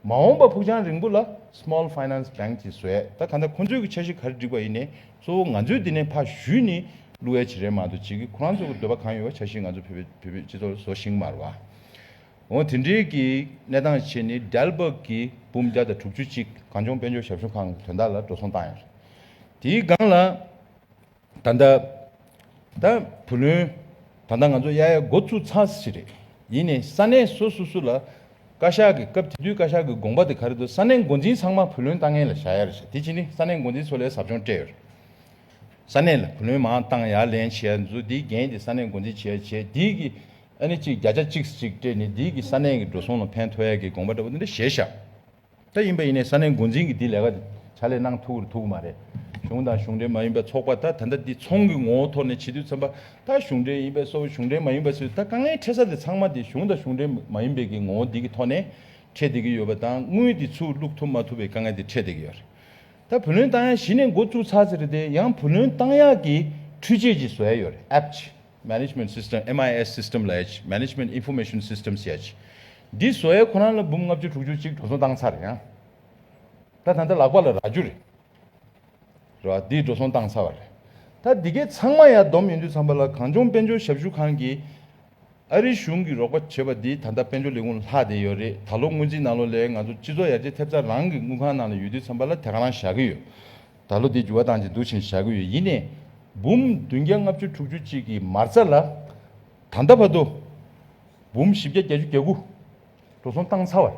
མ་འོངས་པ་ཕུགས་རྒྱང་རིང་པོ་ལ Small Finance Bank དེ་བཟོས་ད་ག་འདྲ་ཁོ་ཚོས་ཀྱི་འཆར་གཞི་ག་རེ་བསྒྲིགས་པ་ཡིན་ནས་གཙོ་བོ་ང་ཚོས་དེ་ནས་ཕ་བཞུས་ནི་བསླུ་བའི་བྱེད་རན་མ་འདུག་བྱེད་ཀྱི་ཁོ་རང་ཚོ་གི་འདོད་པ་གང་ཡོད་བ་འཆར་གཞི་ང་ཚོ་བོད་པའི་སྤྱི་ཚོགས་ལ་བཟོ་ཞིང་མར་བ། འོན་དེ་འབྲེལ་གྱི་གནས་སྟངས་ཕྱེ་ནི་རྒྱལ་འབབ་ཀྱི་འབུམ་བརྒྱ་དང་དྲུག་ཅུ་གཅིག་གངས་ལྗོངས་དཔལ་འབྱོར་ཞབས་ཞུ་ཁང་གི་དོན་དག་ལ་འགྲོ་སོང་བཏང་ཡོད་རེད། དེའི་སྒང་ལ། ད་ལྟ། ད་བུ་ལོན། ད་ལྟ་ང་ཚོ་གཡག་ཡག་འགོ་བཙུགས་ཚར་ཟིན་རེད། ཡིན་ནས་ས་གནས་སོ་སོ་སུ་ལ། བཀའ་ཤག་གི་སྐབས་དེ་དུས་བཀའ་ཤག་གི་དགོངས་པ་དེ་ག་རེ་འདུག་ས་གནས་འགོ་འཛིན་ཚང་མ་བུ་ལོན་བཏང་མཁན་ལ་བྱ་ཡ་རེ་བྱ་དེ་བྱས་ནི་ས་གནས་འགོ་འཛིན་ཚོ་ལས་ཟབ་སྦྱོང་སྤྲད་ཡོད་རེད། ས་གནས་ལ་བུ་ལོན་མང་བཏང་ཡ་ལན་བྱས་ཡ་འདི་ཚོ་དེའི་འགན་དེ་ས་གནས་འགོ་འཛིན་བྱས་ཡ་བྱས་དེའི་གི། ཨ་ནི་ཅིག་བརྒྱ་ཆ་གཅིག་གཅིག་སྤྲད་ནི་འདིའི་གི་ས་གནས་གི་འགྲོ་སོང་ལ་ཕན་ཐོགས་ཡ་གི་དགོངས་པ་འདྲ་པོ་འདི་འདྲ་བཞེས་ཤག་ད་ཡིན་པ་ཡིན་ནའི་ས་གནས་འགོ་འཛིན་གི་འདི་ལས་ཀ་བྱ་ལས་གནང་ཐུག་ར་ཐུག་གི་མ་རེད་གཞུང་དང་གཞུང་འབྲེལ་མ་ཡིན་པ་ཚོགས་པ་ད་ད་འདི་ཚོང་གི་ངོ་བོ་ཐོག་ནས་བྱེད་དུས་འཚམ་པ་ད་གཞུང་འབྲེལ་ཡིན་པས་སོ་གཞུང་འབྲེལ་མ་ཡིན་པ་སོས་ད་དཀའ་ངལ་འཕྲད་ས་དེ་ཚང་མ་དེ་གཞུང་དང་གཞུང་འབྲེལ་མ་ཡིན་པའི་གི་ངོ་བོ་འདི་གི་ཐོག་ནས་འཕྲད་བསྡད་གི་ཡོད་པ་དང་དངུལ་དེ་ཚུགས་བླུགས་ཐུབ་མ་ཐུབ་པའི་དཀའ་ངལ་དེ་འཕྲད་བསྡད་གི་ཡོད་རེད་ད་བུ་ལོན་བཏང་ཡག་གཞི་ནས་འགོ་བཙུགས་ཚར་ཟེར་རེད་དེ་ཡང་བུ་ལོན་བཏང་ཡག་གི་འཕྲུལ་ཆས་ཅིག་བཟོས་ཡོད་རེད Apps ཅིག། Management System MIS System ལ་ཡྱེད Management Information Systems ཡྱེད། འདི་བཟོ་ཡས་ཁོ་རང་ལ་འབུམ་ལྔ་བཅུ་དྲུག་ཅུ་གཅིག་གྲོ་སོང་བཏང་ཚར་རེད་ཡང། ད་ད་ད་ལག་པ་ལ་རག་རྒྱུ་རེད། རེད་བ། འདི་གྲོ་སོང་བཏང་ཚར་བ་རེད། ད་འདི་གས་ཚང་མ་ཡང་བསྡོམས་ཡོང་དུས་ཚང་པ་ལ་གངས་ལྗོངས་དཔལ་འབྱོར་ཞབས་ཞུ་ཁང་གིས་ཨ་རིའི་གཞུང་གིས་རོགས་པ་བྱེད་པ་འདི་ད་ལྟ་དཔལ་འབྱོར་ལས་ཁུངས་ལྷག་བསྡད་ཡོད་རེད་ད་ལོ་སྔོན་རྩིས་ནང་ལོ་ལས་ང་ཚོ་སྤྱི་ཚོགས་ཡར་རྒྱས་ཐེབས་རྩ་རང་གི་དངུལ་ཁང་ནང་ལ་ཡོད་དུས་ཚང་པ་ལ་དེ་ག་རང་བཞག་གི་ཡོད། ད་ལོ་དེ་འགྱུར་བ་བཏང་ཅིང་འདུག་བཞིན་བཞག་གི་ཡོད་ཡིན་ནས། འབུམ་བདུན་བརྒྱ་ལྔ་བཅུ་དྲུག་ཅུ་གཅིག་གི་མར་རྩ་ལ། ད་ལྟ་བར་དུ། འབུམ་བཞི་བརྒྱ་བརྒྱད་ཅུ་གྱ་དགུ། འགྲོ་སོང་བཏང་ཚར་བར།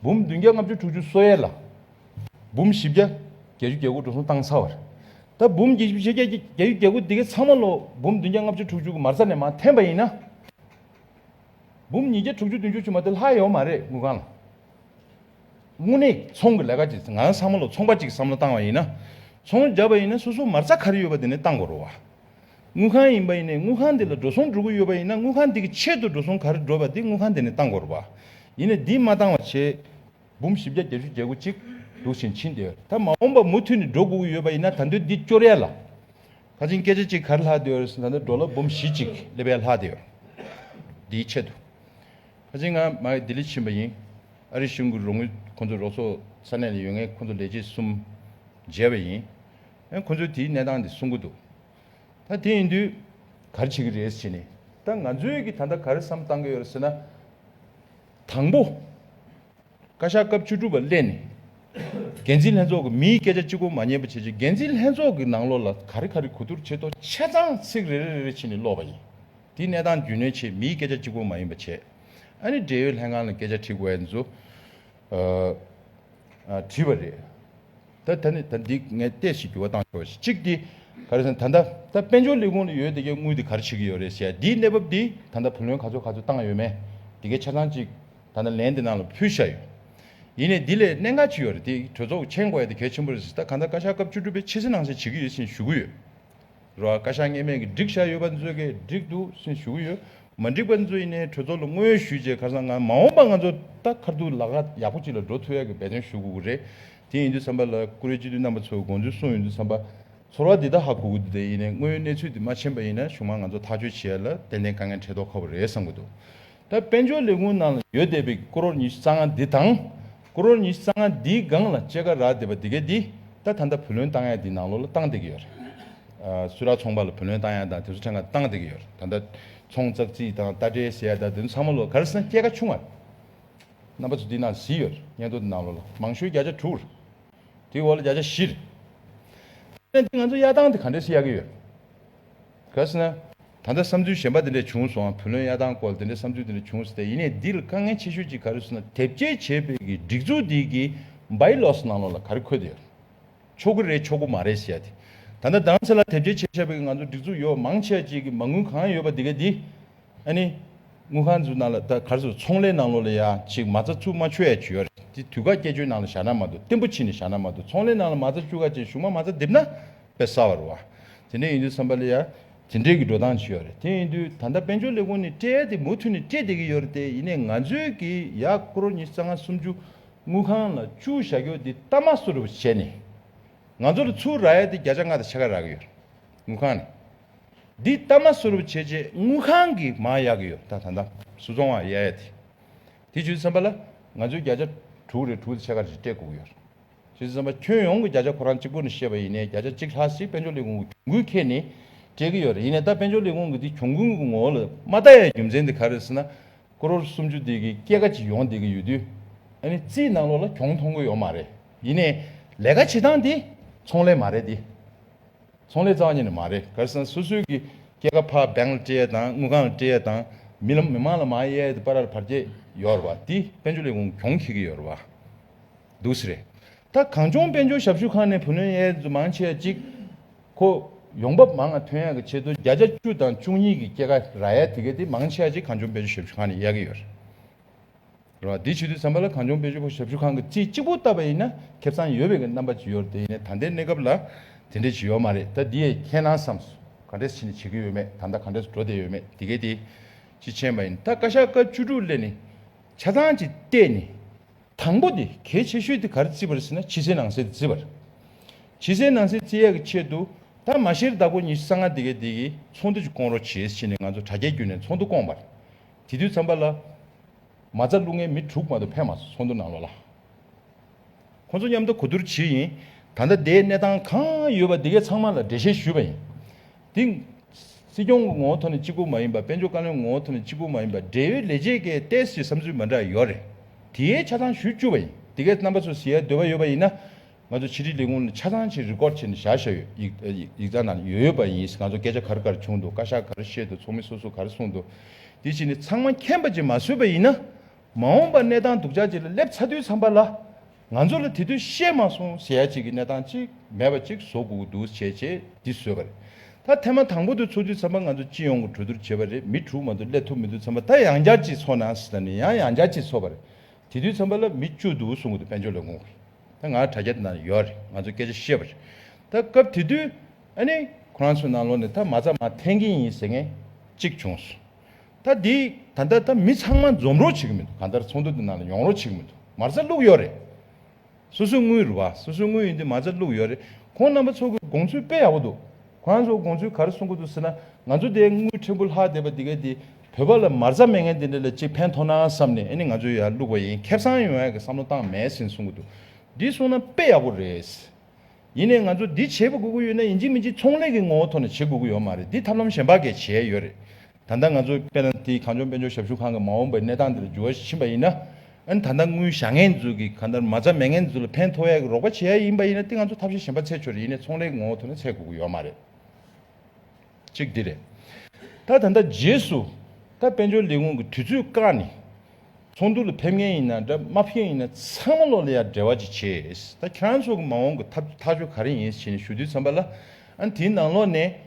འབུམ་བདུན་བརྒྱ་ལྔ་བཅུ་དྲུག་ཅུ་སོ་ཡས་ལ། འབུམ་བཞི་བརྒྱ་བརྒྱད་ཅུ་གྱ་དགུ་འགྲོ་སོང་བཏང་ཚར་བར། ད་འབུམ་བཞི་བརྒྱ་བརྒྱད་ཅུ་གྱ་དགུ་དེ་གའི་ཚང་མ་ལོ་འབུམ་བདུན་བརྒྱ་ལྔ་བཅུ་དྲུག་ཅུ་གི་མར་རྩ་ནས་མ་འཐེན་པ་ཡིན་ན། འབུམ་ཉིས་བརྒྱ་དྲུག་ཅུ་བདུན་ཅུ་ཆུད་མ་དེ་ལྷག་ཡོད་མ་རེད་དངུལ་ཁང་ལ། དངོས་གནས་ཚོང་གི་ལས་ཀ་གྱིས་ང་རང་བསམ་བློ་ཚོང་པ་གཅིག་གི་བསམ་བློ་བཏང་བ་ཡིན་ན། ཚོང་རྒྱབ་པ་ཡིན་ན་སོ་སོ་མར་རྩ་ག་རེ་ཡོད་པ་དེ་ནས་བཏང་དགོས་རོགས། དངུལ་ཁང་ཡིན་པ་ཡིན་ནས་དངུལ་ཁང་འདི་ལ་འགྲོ་སོང་འགྲོ་གི་ཡོད་པ་ཡིན་ན་དངུལ་ཁང་འདི་གི་ཆེད་དུ་འགྲོ་སོང་ག་རེ་འགྲོ་བ་དེ་དངུལ་ཁང་འདི་ནས་བཏང་དགོས་རོགས་པ། ཡིན་ནས་འདི་མ་བཏང་བ་ཆེད། འབུམ་བཞི་བརྒྱ་བརྒྱད་ཅུ་བརྒྱད་དགུ་གཅིག་འདུག་ཕྱིན་ཕྱིན་དེ་ད་མ་འོངས་པ་མུ་མཐུད་ནས་འགྲོ་དགོས་ཀྱི་ཡོད་པ་ཡིན་ན་ད་འདོད་འདི་སྐྱོར་ཡ་ལ། ཁ་ཆེན་སྐད་ཆ་གཅིག་ག་རེ་ལྷག་དེ་ཡོད་རེད་ཟེར་ན་ད་འགྲོ་ལ་འབུམ་བཞི་གཅིག་སླེབས་ཡ་ལྷག་དེ་ཡོད་རེད། འདིའི་ཆེད་དུ། ཕ་ཚེ་ང་མ་ཡིས་ལྡི་ལི་ཕྱིན་པ་ཡིན། ཨ་རིའི་གཞུང་གི་རོགས་དངུལ་ཁོང་ཚོའི་རོགས་ཚོགས་ས་གནས་ལ་ཡོད་ངེས་ཁོང་ཚོ་ལས་བྱེད་གསུམ་མཇལ་བ་ཡིན། ཨེ་ཁོང་ཚོས་དེའི་གནས་སྟངས་དེ་གསུང་གི་འདུག་ད་དེ་ཡིན་དུས། གར་བྱེད་ཀྱི་རེད་ཟེར་ནས་ད་ང་ཚོས་ཀྱིས་ད་ལྟ་ག་རེ་བསམ་བཏང་གི་ཡོད་རེད་ཟེར་ན། དང་པོ། བཀའ་ཤག་སྐབས་བཅུ་དྲུག་པ་སླེབས་ནས། འགན་འཛིན་ལྷན་ཚོགས་ཀྱི་མིའི་སྐད་ཆ་གཅིག་པོ་མ་ཉན་པ་བྱས་རྗེས་འགན་འཛིན་ལྷན་ཚོགས་ཀྱི་ནང་ལོགས་ལ་ག་རེ་ག་རེ་གོ་བསྡུར་བྱེད་དོ་ཆེ་ཚང་ཚིག་རེ་རེ་རེ་རེ་ཕྱིན་ནས་ཀློག་པ་ཡིན། དེའི་གནས་སྟངས་རྒྱུས་ལོན་ཆེད་མིའི་སྐད་ཆ་གཅིག་པོ་མ་ཡིན་པ་བྱས། ཨ་ནི་འབྲེལ་ཡོད་ལྷན་ཁང་ལ་སྐད་ཆ་དྲིས་དགོས་ཨེ་འདུག། དྲིས་པ་རེད། ད་ད་ནི་ད་འདི་ངས་བལྟས་ཤིག་འགྱུར་བ་བཏང་ཆོག་གཅིག་དེ། ག་རེ་ཟེར་ན་ད་ད་ད་དཔལ་འབྱོར་ལས་ཁུངས་ལ་ཡོད་དེ་གའི་དངུལ་དེ་ག་རེ་བྱེད་ཀྱི་ཡོད་རེད་ཞེས་འདིའི་གནས་བབ་འདི་ད་ད་བུ་ལོན་ག་ཚོད་ག་ཚོད་བཏང་ཡོད་མེད་དེ་གའི་ཆ་ཚང་གཅིག་ད་ད་ལན་དེ་ནང་ལ་ཕུལ་བཞག་ཡོད། ཡིན་ནས་འདི་ལས་གནད་འགག་ཅིག་ཡོད་རེད་དེ་གྲོས་ཚོགས་ཀྱི་མཆན་བཀོད་ཡ་དེ་གལ་ཆེན་པོ་རེད་ཟེར་ད་ག་ད་བཀའ་ཤག་སྐབས་བཅུ་དྲུག་པས་ཕྱི་གསལ་ནང་གསལ་བྱེད་ཀྱི་ཡོད་ཅེས་ཞུ་གི་ཡོད། རོ་ཨ་ཀ་ཤ་ངེས་མེད་ཀྱི་སྒྲིག་བཞག་ཡོད་པ་ཚོས་གད་སྒྲིག་ཏུ་སུན་ཞུ་གི་ཡོད། མ་འགྲིག་པ་ཚོས་ཡིན་ནའི་གྲོས་ཚོགས་ལ་དངོས་ཡོད་ཞུས་རྗེས་ཁར་སང་ང་མ་འོངས་པ་ང་ཚོ་ད་ཁར་དུ་ལག་ཁ་ཡག་པོ་ཅིག་ལ་འགྲོ་ཐུབ་ཡག་གི་འབད་བརྩོན་ཞུ་དགོས་ཀྱི་རེད། དེ་ཡིན་དུས་བསམ་པ་ལ་ཀུ་རེ་སྤྱི་འཐུས་རྣམ་པ་ཚོས་དགོངས་ཚུལ་གསུངས་ཡོད་དུས་བསམ་པ། ཚོར་བ་འདི་དག་ཧ་གོ་གི་འདུག་དེ་ཡིན་ནའི་དངོས་ཡོད་གནས་ཚུལ་དེ་མ་མཁྱེན་པ་ཡིན་ན་གཞུང་མང་ང་ཚོ་ཐག་གཅོད་བྱེད་ཡ་ལ་ཏན་ཏན་དཀའ་ངལ་འཕྲད་དོགས་ཁག་པོ་རེད་བསམ་གྱི་འདུག་ད་དཔལ་འབྱོར་ལས་ཁུངས་ནང་ལ་ཡོད་བསྡད་པའི་ཀོ་རོར་ཉི་ཤུ་རྩ་ལྔ་འདི་དང། ཀོ་རོར་ཉི་ཤུ་རྩ་ལྔ་འདིའི་སྒང་ལ་ལྕེ་ཁ་རག་བསྡད་པ་འདི་གས་འདི་ད་ད་ལྟ་བུ་ལོན་བཏང་ཡག་འདི་ནང་ལོགས་ལ་བཏང་བསྡད་ཀྱི་ཡོད་རེད། སུ་རག་ཚོང་པ་ལ་བུ་ལོན་བཏང་ཡག་དང་དེ་ཚོ་ཕྲན་ག་བཏང་བསྡད་ཀྱི་ཡོད་རེད་ད་ད་ཚོང་ཙག་ཙིག་དང་རྟ་དྲེལ་ཟེ་ཡག་དང་དེ་ཚོ་ཚང་མ་ལོགས་གར་སོང་སྐྱེ་ཁ་ཆུང་བ་རེད། རྣམ་པ་ཚོ་འདི་ནང་བཟི་ཡོད་རེད་སྙན་ཐོ་འདི་ནང་ལོགས་ལ་མང་ཤོས་བརྒྱ་ཆ་དྲུག་རེད། དེའི་འོག་ལ་བརྒྱ་ཆ་བཞི་རེད། ད་ནས་འདི་ང་ཚོ་གཡར་སྟངས་དེ་ག་འདྲས་སུ་གཡར་གྱི་ཡོད་རེད། གལ་སྲིད་ན། ད་ལྟ་བསམ་ཚུལ་གཞན་པ་དེ་འདྲས་བྱུང་སོང་བ་བུ་ལོན་གཡར་སྟངས་སྐོར་དེ་འདྲས་བསམ་ཚུལ་དེ་འདྲས་བྱུང་སྟེ་ཡིན་ནས་འདི་ལ་དཀའ་ངལ་ཆེ་ཤོས་ཅིག་ག་རེ་སོང་ན་དེབ་སྐྱེལ་བྱེད་པའི་གི་སྒྲིག་འཛུགས་འདི་གི Buy Loss ནང་ལོགས་ལ་ག་རེ་འཁོད་དེ་ཡོད། ཆོག་གི་རེད་ཆོག་གི་མ་རེད་ཟེར་ཡ་དེ། ད་ལྟ་དང་ཚེ་ལ་དེབ་སྐྱེལ་བྱེད་བྱས་པའི་གི་ང་ཚོ་སྒྲིག་འཛུགས་ཡོད་མང་ཆེ་བ་ཅིག་གི་མ་དངུལ་གང་ཡོད་པ་དེ་ག་དེ། ཨ་ནི། དངུལ་ཁང་འཛུགས་ནང་ལ་ད་ག་རེ་སོང་ཚོང་ལས་ནང་ལོགས་ལ་ཡ་ཅིག་མ་རྩ་བཅུག་མ་ཆོད་ཡ་ཇུས་ཡ་རེད་དེ་དུས་ག་སྐྱེལ་བཅོལ་ནང་ལ་བཞག་ན་མ་འདུག་བརྟན་པོ་ཕྱིན་ནས་བཞག་ན་མ་འདུག་ཚོང་ལས་ནང་ལ་མ་རྩ་བཅུག་ག་ཅིག་བཞུགས་མ་མ་རྩ་བསྡེབས་ན། པས་སྲ་བར་བ། དེ་འདྲས་ཡིན་དུས་སམ་པ་ལི་ཡ། དེ་འདྲས་ཀྱི་འགྲོ་སྟངས་ཇི་ཡོད་རེད། དེ་ཡིན་དུས་ད་ལྟ་དཔལ་འབྱོར་ལས་ཁུངས་ནས་སྤྲད་དེ་མུ་མཐུད་ནས་སྤྲད་བསྡད་ཀྱི་ཡོད་རེད་དེ་ཡིན་ནས་ང་ཚོའི་གི་ཡ་ཀོར་ཉིས་རྩ་ལྔ་སུམ་ཅུ་དངུལ་ཁང་ལ་བཅུག་བཞག་རྒྱུ་འདི་ལྟ་མ་སུ་རེད་བྱས་ནས། ང་ཚོ་ལ་ཚུར་ར་ཡལ་ཏེ་བརྒྱ་ཆ་ལྔ་དང་ཕྱེད་ཀ་རག་གི་ཡོད་དངུལ་ཁང་ནས། འདི་ལྟ་མ་སུ་རེད་བྱས་རྗེས་དངུལ་ཁང་གི་མ་ཡག་གི་ཡོད་ད་ད་ད་སུ་ཚོང་བ་ཡ་ཡ་དེ་དེ་བྱུས་སམ་པ་ལ་ང་ཚོའི་བརྒྱ་ཆ་དྲུག་རེད་དྲུག་དང་ཕྱེད་ཀ་རེད་སྤྲད་དགོས་ཀྱི་ཡོད། ཞེས་གསུངས་པ་ཁྱོན་ཡོངས་ཀྱི་བརྒྱ་ཆ་ཁོ་རང་གཅིག་པུ་ནས་བཤད་པ་ཡིན་ནའི་བརྒྱ་ཆ་གཅིག་ལྷག་ཞིག་དཔལ་འབྱོར་ལས་ཁུངས་ཀྱི་གྱོང་གུན་ཁེལ་ནས་སྤྲད་ཀྱི་ཡོད་རེད་ཡིན་ནའི་ད་དཔལ་འབྱོར་ལས་ཁུངས་ཀྱི་དེ་གྱོང་གུན་གྱི་ངོ་བོ་ལ་མ་བལྟ་ཡའི་རྒྱུ་མཚན་དེ་ག་རེད་ཟེར་ན། ཀྲོར་སུམ་ཅུ་དེ་གི་སྐྱེད་ཀ་ཅིག་ཡོང་བསྡད་ཀྱི་ཡོད་དུས། ཨ་ནི་རྩིས་གནང་ལོག་ལ་གྱོང་མཐོང་གི་ཡོད་མ་རེད་ཡིན་ནའི། ལས་ཀ་བྱེད་སྟངས་དེ་ཚོང་ལས་མ་རེད་དེ། ཚོང་ལས་རྩ་བ་ཉིད་ནས་མ་རེད་ག་རེ་ཟེར་ན་སོ་སོའི་གི་སྐྱེད་ཀ་ཕ་སྦེང་ལ་སྤྲད་ཡས་དང་དངུལ་ཁང་ལ་སྤྲད་ཡས་དང་མི་ལ་མི་མང་ལ་མ་ཡས་དེ་པ་ར་ལ་བར་བཅད་ཡོད་རེད་བ་དེ་དཔལ་འབྱོར་ལས་ཁུངས་གྱོང་ཁེལ་གྱི་ཡོད་རེད་བ། འདུག་ཟེར། ད་གངས་ལྗོངས་དཔལ་འབྱོར་ཞབས་ཞུ་ཁང་ནས་བུ་ལོན་ཡལ་འཛུགས་མང་ཆེ་བ་གཅིག་ཁོ། ཡོང་འབབ་མང་ང་ཐོན་ཡག་གི་ཆེད་དུ་བརྒྱ་ཆ་བཅུ་དང་བཅུ་གཉིས་ཀྱི་སྐྱེད་ཀ་ར་ཡལ་དེ་གའི་དེ་མང་ཆེ་བ་གཅིག་གངས་ལྗོངས་དཔལ་འབྱོར་ཞབས་ཞུ་ཁང་ནས་ཡལ་གི་ཡོད། རེད། དེ་བྱེད་དུས་ཟམ་པ་ལ་གངས་ལྗོངས་དཔལ་འབྱོར་ཞབས་ཞུ་ཁང་གི་རྩིས་གཅིག་པོ་བཏབ་པ་ཡིན་ན་ཁེབས་ཚང་ཡོད་པའི་གི་རྣམ་པ་ཇི་ཡོད་དེ་ཡིན་ནའི་ད་ལྟའི་གནས་སྐབས་ལ་དེ་འདྲས་ཇི་ཡོད་མ་རེད་ད་འདི་ཡས་ཁྱེད་རང་བསམ་སོ་ག་འདྲས་ཕྱིན་ནས་བྱེད་གི་ཡོད་མེད་ད་ལྟ་ག་འདྲས་སུ་འགྲོ་བསྡད་ཡོད་མེད་དེ་གའི་དེ་ཅི་མཁྱེན་པ་ཡིན་ད་བཀའ་ཤག་སྐབས་བཅུ་དྲུག་སླེ་ནས་ཆ་ཚང་གཅིག་བལྟས་ནས། དང་པོ་དེ་གལ་ཆེ་ཤོས་དེ་གར་བརྩི་བར་ཟེར་ན་ཕྱི་གསལ་ནང་གསལ་དུ་བརྩི་བར། ཕྱི་གསལ་ནང་གསལ་བརྩི་ཡག་གི་ཆེད་དུ་ད་མ་ཤེར་བདག་པོ་ཉི་ཤུ་རྩ་ལྔ་དེ་གའི་དེ་གའི་ཚོགས་འདུ་ཅིག་བསྐོང་རོགས་བྱེད་ཅེས་ནས་ང་ཚོ་དྲ་རྒྱའི་བརྒྱུད་ནས་ཚོགས་འདུ་བསྐོངས་པར། དེ་དུས་མཚམས་པ་ལ། མ་རྩ་བླུག་མཁན་མི་དྲུག་མ་གཏོགས་ཕན་མ་སོང་ཚོགས་འདུ་ནང་ལོགས་ལ། ཁོ་ཚོ་མཉམ་དུ་གོ་བསྡུར་བྱེད་ཡིན། ད་ལྟ་དེའི་གནས་སྟངས་གང་ཡོད་པ་དེ་གའི་ཚང་མ་ལ་འགྲེལ་བཤད་ཞུས་པ་ཡིན། དེ། སྲིད་སྐྱོང་གི་ངོ་བོ་ཐོག་ནས་གཅིག་པུ་མ་ཡིན་པ་དཔལ་འབྱོར་བཀའ་བློན་གྱི་ངོ་བོ་ཐོག་ནས་གཅིག་པུ་མ་ཡིན་པ་འབྲེལ་ཡོད་ལས་བྱེད་ཀྱི་ཏེས་ཀྱི་བསམ་ཚུལ་མ་འདྲ་ཡོད་རེད། དེའི་ཆ་ཚང་ཞུ་བཅུག་པ་ཡིན། དེ་གའི་རྣམ་པ་ཚོ་ཟེར་ཡའི་འདོད་པ་ཡོད་པ་ཡིན་ན། ང་ཚོ་ཕྱི་དྲིལ་ལས་ཁུངས་ནས་ཆ་ཚང་ཞིག་རི་ཀོར་བྱས་ནས་བཞག་ཤ་ཡོད། ཡིག་ཡིག་ཚང་ནང་ཡོད་ཡོད་པ་ཡིན། ང་ཚོ་སྐད་ཆ་ག་རེ་ག་རེ་བྱུང་འདུག་བཀའ་ཤག་ག་རེ་བཤད་འདུག་ཚོགས་མི་སོ་སོ་ག་རེ་གསུངས་འདུག་དེ་བྱས་ནས་ཚང་མ་མཁྱེན་པ་ཅིག་མ་བཟོས་པ་ཡིན་ན། མ་འོངས་པ་གནས་སྟངས་སྡུག་ཅག་ཅིག་ལ་སླེབས་ཚ་དུས་ཚང་པ་ལ། ང་ཚོ་ལ་དེ་དུས་བཤད་མ་སོང་ཟེར་ཡ་གཅིག་གི་གནས་སྟངས་གཅིག་མེད་པ་གཅིག་བཟོ་དགོས་ཀྱི་འདུག་བྱས་རྗེས་འདི་བཟོས་པ་རེད། ད་ཐེངས་མ་དང་པོ་དུས་ཚོགས་དུས་མཚམས་པ་ང་ཚོ་སྤྱི་ཡོངས་ཀྱི་གྲོས་བསྡུར་བྱས་པ་རེད་མི་དྲུག་མ་གཏོགས་སླེབས་ཐུབ་མི་འདུག་མཚམས་པ་ད་ཡང་བསྐྱར་གཅིག་ཚོགས་ནང་ཟེར་ན་ནི་ཡང་ཡང་བསྐྱར་གཅིག་ཚོགས་པ་རེད། དེ་དུས་མཚམས་པ་ལ་མི་བཅུ་འདུག་གསུང་གི་འདུག་དཔལ་འབྱོར་ལས་ཁུངས་ཀྱི་ད་ང་དྲ་རྒྱ་དེ་ནང་ལ་ཡོད་རེད་ང་ཚོས་སྐད་ཆ་བཤད་པ་རེད། ད་སྐབས་དེ་དུས་ཨ་ནི་ཁོ་རང་ཚོའི་ནང་ལོགས་ནས་ད་མ་རྩ་མ་འཐེན་གྱིན་ཡིན་ཟེར་ངེས་གཅིག་བྱུང་སོང། ད་འདི་ད་ལྟ་ད་མི་ཚང་མ་འཛོམས་རོགས་བྱེད་ཀྱི་མི་འདུག་གང་ལྟར་ཚོགས་འདུ་འདི་ནང་ལ་ཡོང་རོགས་བྱེད་ཀྱི་མི་འདུག་མར་རྩ་བླུགས་ཡོད་རེད། སོ་སོའི་དངུལ་རེད་བ། སོ་སོའི་དངུལ་ཡིན་དུས་མར་རྩ་བླུགས་ཡོད་རེད། ཁོང་རྣམ་པ་ཚོ་གི་དགོངས་ཚུལ་དཔེ་ཡག་པོ་འདུག་ཁོང་རྣམ་ཚོ་དགོངས་ཚུལ་ག་རེ་གསུང་གི་འདུག་ཟེར་ན་ང་ཚོ་དེ་དངུལ་ཕྲན་བུ་ལྷག་བསྡད་པ་འདི་གས་འདི་བོད་པ་ལ་མར་རྩ་མེད་མཁན་དེ་འདྲ་ལ་ཅིག་ཕན་ཐོགས་ན་བསམ་ནས་ཨེ་ནི་ང་ཚོས་ཡར་བླུགས་པ་ཡིན་ཁེབས་སང་ཡོང་ཡག་གི་བསམ་བློ་བཏང་མེད་ཟིན་གསུང་གི་འདུག་འདི་གསུང་ན་དཔེ་ཡག་པོ་རེད། ཡིན་ནས་ང་ཚོ་འདི་བྱེད་དགོས་ཀྱི་ཡོད་ན་ཡིན་གཅིག་མིན་གཅིག་ཚོང་ལས་ཀྱི་ངོ་བོ་ཐོག་ནས་བྱེད་དགོས་ཀྱི་ཡོད་མ་རེད་འདི་ཐབས་ལམ་གཞན་པ་འགས་བྱས་ཡོད་རེད། ད་ལྟ་ང་ཚོ་པེ་ལན་ཏི་གངས་ལྗོངས་དཔལ་འབྱོར་ཞབས་ཞུ་ཁང་གི་མ་འོངས་པའི་གནས་སྟངས་འདི་ལ་འགྱུར་བ་ཕྱིན་པ་ཡིན་ན། ད་ལྟ་དངུལ་བཞག་ངན་འཛུལ་གྱིས་གང་ལྟར་མ་རྩ་མེད་ངན་འཛུལ་ལ་ཕན་ཐོགས་ཡག་གི་རོགས་པ་བྱེད་ཡ་ཡིན་པ་ཡིན་ན་དེ་ང་ཚོ་ཐབས་ཤེས་གཞན་པ་ཚད་ཆོད་རེ་ཡིན་ནས་ཚོང་ལས་ཀྱི་ངོ་བོ་ཐོག་ནས་ཚད་དགོས་ཀྱི་ཡོད་མ་རེད། གཅིག་འདི་རེད། ད་ད་ལྟ་རྗེས་སུ། ད་དཔལ་འབྱོར་ལས་ཁུངས་ཀྱི་དུས་ཚོད་བཀག་ནས། ཚོགས་འདུ་ལ་ཕེབས་ངན་ཡིན་ན་འདྲ་མ་ཕེབས་ཡིན་ན་ཚང་མ་ལོག་ལེ་ཡར་འབྲེལ་བ་ཅིག་བྱེད། ད་ཁྱེད་རང་ཚོ་གི་མ་འོངས་ཀྱི་ཐབས་ཐག་གཅོད་ག་རེ་ཡིན་ཞེས་ནས་ཞུ་དུས་འཚམས་པ་ལ། དེའི་ནང་ལོགས་ནས།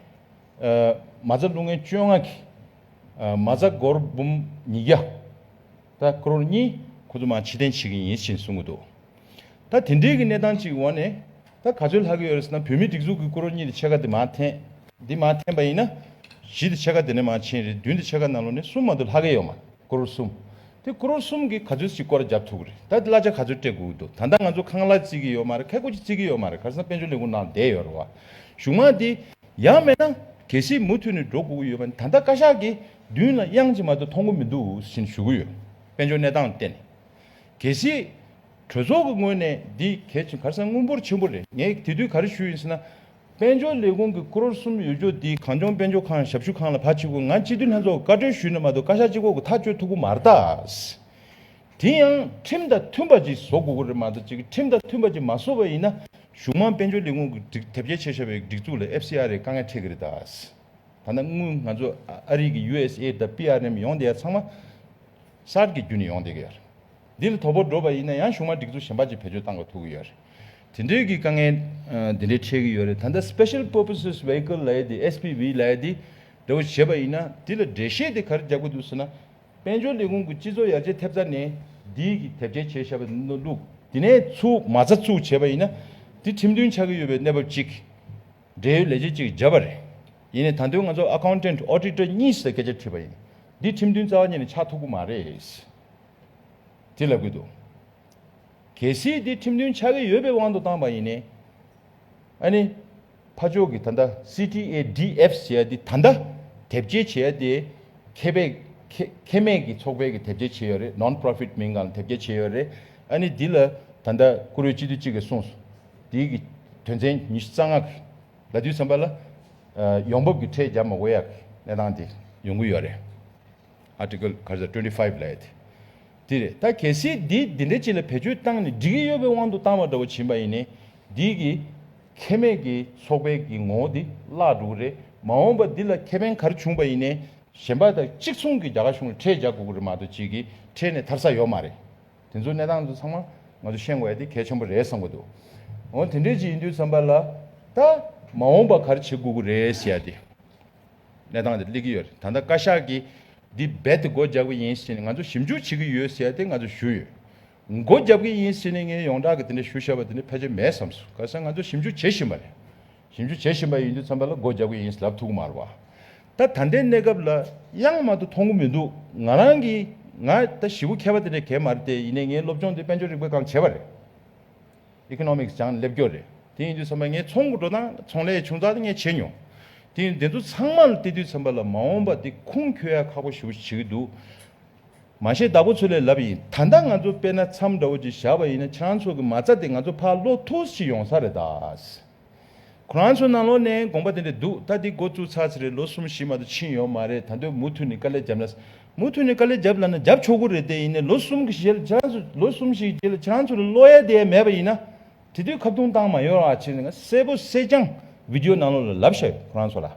མ་རྩ་རླུང་ལྔའི་བཅོ་ལྔ་གྱིས། མ་རྩ་སྒོར་འབུམ་ཉིས་བརྒྱ། ད་ཀྲོར་གཉིས། ཁོ་ཚོ་མང་ཕྱི་བསྟན་བྱེད་ཀྱི་ཡིན་ཞེས་གསུང་གི་འདུག་ད་དེ་འབྲེལ་གྱི་གནས་སྟངས་ཅིག་འོག་ནས་ད་ག་ཚོད་ལྷག་གི་ཡོད་རེད་ཟེར་ན་བོད་མིའི་སྒྲིག་འཛུགས་ཀྱི་ཀྲོར་གཉིས་དེ་ཕྱེད་ཀ་དེ་མ་འཐེན། དེ་མ་འཐེན་པ་ཡིན་ན། བཞི་དེ་ཕྱེད་ཀ་དེ་ནས་མང་ཕྱིན་རེད་བདུན་དེ་ཕྱེད་ཀ་ནང་ལོ་ནས་གསུམ་མ་འདུག་ལྷག་གི་ཡོད་མ་རེད་ཀྲོར་གསུམ། དེ་ཀྲོར་གསུམ་གྱིས་ག་ཚོད་ཞིག་སྐོར་རྒྱབ་ཐུབ་གི་རེད་ད་དེ་གླ་ཆ་ག་ཚོད་སྤྲད་དགོས་ཀྱི་འདུག་ད་ལྟ་ང་ཚོ་ཁང་གླ་རྩིས་ཀྱི་ཡོད་མ་རེད་ཁལ་སྒོ་ཅིག་རྩིས་ཀྱི་ཡོད་མ་རེད་ག་རེ་ཟེར་ན་དཔལ་འབྱོར་ལས་ཁུངས་ནང་བསྡད་ཡོད་རེད་བ། གཞུང་མང་དེ། ཡང་མེད་ན་གལ་སྲིད་མུ་མཐུད་ནས་འགྲོ་དགོས་ཀྱི་ཡོད་པ་ནི་ད་ལྟ་བཀའ་ཤག་གིས་མདུན་ལ་དབྱངས་ཅིག་མ་གཏོགས་མཐོང་གི་མི་འདུག་ཞེས་ཞུ་གི་ཡོད། དཔལ་འབྱོར་གནས་སྟངས་བལྟས་ནས། གལ་སྲིད། གྲོས་ཚོགས་ཀྱི་ངོས་ནས་འདི་གལ་ཆེན་གར་ས་དངུལ་འབོར་ཆེན་པོ་རེད་ངས་དེ་དུས་ག་རེ་ཞུས་ཡིན་ཟེར་ན། དཔལ་འབྱོར་ལས་ཁུངས་ཀྱི་ཀྲོར་གསུམ་ཡོད་ཆོག་འདི་གངས་ལྗོངས་དཔལ་འབྱོར་ཁང་ཞབས་ཞུ་ཁང་ལ་ཕར་ཕྱིན་དགོས་ང་སྤྱི་འཐུས་ལྷན་ཚོགས་ཀྱི་བཀའ་ཁྲོལ་ཞུས་ནས་མ་གཏོགས་བཀའ་ཤག་སྤྱི་ཁོག་གི་ཐག་གཅོད་ཐུབ་པོ་མ་རེད་ད། དེ་ཡང་ཁྲིམས་དང་མཐུན་པ་ཅིག་བཟོ་དགོས་ཀྱི་རེད་མ་གཏོགས་ཅིག་ཁྲིམས་དང་མཐུན་པ་ཅིག་མ་བཟོ་བ་ཡིན་ན་གཞུང་མང་དཔལ་འབྱོར་ལས་ཁུངས་ཀྱི་སྒྲིག་དེབ་རྒྱ་ཆེ་ཤོས་པའི་སྒྲིག་འཛུགས་ལ་ཨེབ་སི་ཨ་རེ་དཀའ་ངལ་འཕྲད་ཀྱི་རེད་ད། ད་ནི་དངུལ་ང་ཚོ་ཨ་རིག་གི་ཡུ་ཨེས་ཨེད་དང་པི་ཨར་ཨེམ་ཡོང་བསྡད་ཡ་ཚང་མ་སར་གྱི་རྒྱུ་ནས་ཡོང་བསྡད་ཀྱི་ཡ་རེད། འདི་ལ་དོ་ཕོག་འགྲོ་བ་ཡིན་ན་ཡང་གཞུང་མང་སྒྲིག་འཛུགས་གཞན་པ་ཅིག་བེད་སྤྱོད་བཏང་དགོས་ཐུག་གི་ཡ་རེད། དེ་འདྲའི་གི་དཀའ་ངལ་འདི་འདྲའི་འཕྲད་ཀྱི་ཡོད་རེད་ད་ལྟ Special Purposes Vehicle ལ་ཡེ་དེ SPV ལ་ཡེ་དེ་འདྲ་བོ་བྱས་པ་ཡིན་ན་དེ་ལ་འགྲེལ་བཤད་དེ་ག་རེ་རྒྱག་དགོས་འདུག་ཟེར་ན། དཔལ་འབྱོར་ལས་ཁུངས་ཀྱི་སྤྱི་ཚོགས་ཡར་རྒྱས་ཐེབས་རྩ་ནི་འདིའི་གིས་དེབ་སྐྱེལ་བྱས་བྱས་པ་ནོར་ལུགས། དེ་ནས་ཚུགས་མ་རྩ་ཚུགས་བྱས་པ་ཡིན་ན་དེ་ཁྲིམས་མཐུན་ཆགས་ཀྱི་ཡོད་པའི་གནས་བབ་ཅིག། འབྲེལ་ཡོད་ལས་བྱེད་ཅིག་བརྒྱབ་པ་རེད། ཡིན་ནས་ད་དོན་ང་ཚོ Accountant Auditor གཉིས་སུ་སྐད་ཆ་དྲིས་པ་ཡིན། འདི་ཁྲིམས་མཐུན་རྩ་བ་ཉིད་ནས་ཆགས་ཐུབ་ཀྱི་མ་རེད། དེ་ལ་གུས་འདུད། གལ་སྲིད་དེ་ཁྲིམས་མཐུན་ཆགས་ཀྱི་ཡོད་པའི་དབང་དུ་བཏང་པ་ཡིན་ན། ཕ་ཕྱོགས་ཀྱིས་ད་ལྟ CTADF ཞེས་པ་འདི་ད་ལྟ་དེབ་སྐྱེལ་བྱེད་ཡ་དེ། ཁེ་བས། ཁེ་མེད་ཀྱི་ཚོགས་པའི་གི་དེབ་སྐྱེལ་བྱེད་ཡོད་རེད Non Profit མིང་གང་ལ་དེབ་སྐྱེལ་བྱེད་ཡོད་རེད། ཨ་ནི་འདི་ལ་ད་ལྟ་བཀུར་འོས་སྤྱི་འཐུས་གཅིག་གིས་གསུངས་སོ། འདི་གི་དོན་ཚན་ཉི་ཤུ་རྩ་ལྔ་གི་ལ་དུས་གསུམ་པ་ལ། ཡོང་འབབ་ཀྱི་ཁྲལ་བརྒྱབ་མ་དགོས་ཡ་གི་གནས་སྟངས་དེ་ཡོང་གི་ཡོད་རེད། Article ག་ཟེར twenty five ལས་ཏེ། དེ་རེད་ད་གལ་སྲིད་འདི་འདི་འདྲ་ཅིག་ལ་བེད་སྤྱོད་བཏང་ནས་འགྲིག་གི་ཡོད་པའི་དབང་དུ་བཏང་བ་འདྲ་བོ་བྱིན་པ་ཡིན་ནས་འདི་གི་ཁྱད་མེད་ཀྱི་ཚོགས་པའི་གི་ངོ་བོ་འདི་བརླག་འགྲོ་གི་རེད་མ་འོངས་པ་འདི་ལ་ཁེ་ཕན་ག་རེ་བྱུང་བ་ཡིན་ནས། གཞན་པ་དང་གཅིག་མཚུངས་ཀྱི་རྒྱ་གར་གཞུང་ལ་ཁྲལ་རྒྱག་དགོས་ཀྱི་རེད་མ་གཏོགས་གཅིག་གིས་ཁྲལ་ནས་ཐར་ས་ཡོད་མ་རེད། དེ་ཚོའི་གནས་སྟངས་ཚོ་ཚང་མ་ང་ཚོ་ཤེས་དགོས་ཡ་དེ་གལ་ཆེན་པོ་རེད་བསམ་གྱི་འདུག་འོ་དེ་འདྲས་ཅིག་ཡིན་དུས་བསམ་པ་ལ་ད་མ་འོངས་པ་ག་རེ་བྱེད་དགོས་ཀྱི་རེད་ཟེར་ཡ་དེ། གནས་སྟངས་དེ་གླེང་གི་ཡོད་རེད་ད་ལྟ་བཀའ་ཤག་གིས་འདི་རྦད་དེ་སྒོ་རྒྱབ་ཀྱི་ཡིན་ཟེར་ནས་ང་ཚོ་ཞིབ་འཇུག་བྱེད་ཀྱི་ཡོད་ཟེར་ཏེ་ང་ཚོ་ཞུས་ཡོད། སྒོ་རྒྱབ་ཀྱི་ཡིན་ཟེར་ནས་ངས་ཡོངས་གྲགས་ཀྱི་དེ་འདྲ་ཞུ་བཞག་པ་དེ་འདྲ་ཕལ་ཆེར་མེད་བསམ་སོང་ག་ས་ང་ཚོ་ཞིབ་འཇུག་བྱེད་བཞིན་པ་རེད། ཞིབ་འཇུག་བྱེད་བཞིན་པ་ཡིན་དུས་ཚང་མ་ལ་སྒོ་རྒྱབ་ཀྱི་ཡིན་ལབ་ཐུག་མ་རེད་བ། ད་ད་ལྟའི་གནས་སྐབས་ལ་དབྱངས་མ་དུ་མཐོང་གི་མི་འདུག་ང་རང་གིས་ང་ད་བཞི་བོ་མཁས་པ་དེ་འདྲ་གལ་མ་རེད་དེ་ཡིན་ནས་ངའི་སློབ་སྦྱོང་དེ་དཔལ་འབྱོར་རིག་པའི་སྒང་བྱས་པ་རེད། Economics སྦྱངས་སླེབས་རྒྱུ་རེད། དེ་ཡིན་དུས་ཚང་མས་ངའི་ཚོང་དགོད་བྲོ་དང་ཚོང་ལས་ཆུང་ཙག་དེ་ངས་བྱས་མྱོང། དེ་ཡིན་དེ་ཚོ་ཚང་མ་ལ་བལྟས་དུས་ཚན་པ་ལ་མ་འོངས་པ་དེ་ཁུངས་འཁྱོལ་ཡག་ཁག་པོ་ཞུ་བྱེད་ཀྱི་འདུག། མ་བཤད་བདག་པོ་ཚོ་ལས་ལབ་ཡིན་ད་ལྟ་ང་ཚོ་དཔེ་ན་འཚམས་འདྲ་བོ་ཅིག་བཞག་པ་ཡིན་ན་ཁྱེད་རང་ཚོ་གི་མ་རྩ་དེ་ང་ཚོ་ཕར་བློ་ཐུགས་ཤིག་ཡོང་ས་རེད་ད། ཁོ་རང་ཚོའི་ནང་ལོག་ནས་དགོངས་པ་དེ་འདྲ་འདུག་ད་འདི་འགོ་བཙུགས་ཚར་ཚེ་རེད་ལོ་གསུམ་བཞི་མ་ཏོ་ཕྱིན་ཡོད་མ་རེད་ད་འདོད་མུ་མཐུད་ནས་དཀའ་ལས་རྒྱབ་ན། མུ་མཐུད་ནས་དཀའ་ལས་རྒྱབ་ལ་ན་རྒྱབ་ཆོག་གི་རེད་དེ་ཡིན་ནའི་ལོ་གསུམ་གྱི་རྗེས་ལ་ཁྱེད་རང་ཚོ་ལོ་གསུམ་བཞིའི་རྗེས་ལ་ཁྱེད་རང་ཚོ་ལ་བློ་ཡལ་དེ་ཡལ་མེད་པ་ཡིན་ན། དེ་དུས་ཁ་བརྡུང་བཏང་མ་ཡོད་ར་བྱས་ནས་ང་གསལ་པོ་གསལ་རྐྱང་བིདེའོ་ནང་ལོག་ལ་ལབ་ཤ་ཡོད་ཁོ་རང་ཚོ་ལ།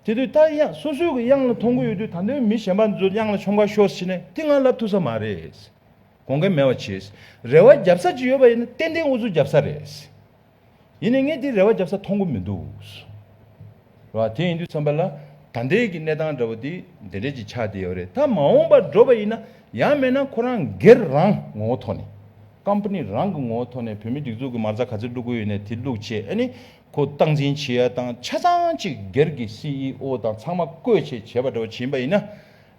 དེ་དུས་ད་དབྱངས་སོ་སོའི་གི་དབྱངས་ལ་མཐོང་གི་ཡོད་དུས་ད་འདོད་མི་གཞན་པ་ཚོ་དབྱངས་ལ་ཆོ་འགའ་ཤོར་ཕྱིན་ནས་དེ་ང་ལབ་ཐུབ་ས་མ་རེད། དགོངས་མཁན་མེད་བ་བྱས། རེ་བ་རྒྱབ་ས་ཅིག་ཡོད་པ་ཡིན་ན་ཏན་ཏན་འུ་ཚོ་རྒྱབ་ས་རེད། ཡིན་ནས་ངས་དེའི་རེ་བ་བརྒྱབ་ས་མཐོང་གི་མི་འདུག། རེད་བ། དེ་ཡིན་དུས་ཚང་པ་ལ་ད་འདྲེས་ཀྱི་གནས་སྟངས་འདྲ་བོ་དེ་འདྲེ་འདྲེས་ཀྱི་ཆགས་བསྡད་ཡོད་རེད་ད་མ་འོངས་པར་འགྲོ་བ་ཡིན་ན་ཡང་མེད་ན་ཁོ་རང་སྒེར་རང་ངོ་བོ་ཐོག་ནས། Company རང་གི་ངོ་བོ་ཐོག་ནས་བོད་མི་སྒྲིག་འཛུགས་ཀྱི་མ་རྩ་ག་ཚོད་བསླུག་དགོས་ཡོད་ནས་དེ་བསླུག་ཆེད་ཨ་ནི་ཁོ་སྟངས་འཛིན་བྱེད་ཡ་དང་ཆ་ཚང་ཅིག་སྒེར་གྱི CEO དང་ཚང་མ་བསྐོས་ཆེད་བྱས་པ་འདྲ་བོ་བྱེད་ཡིན་པ་ཡིན་ན་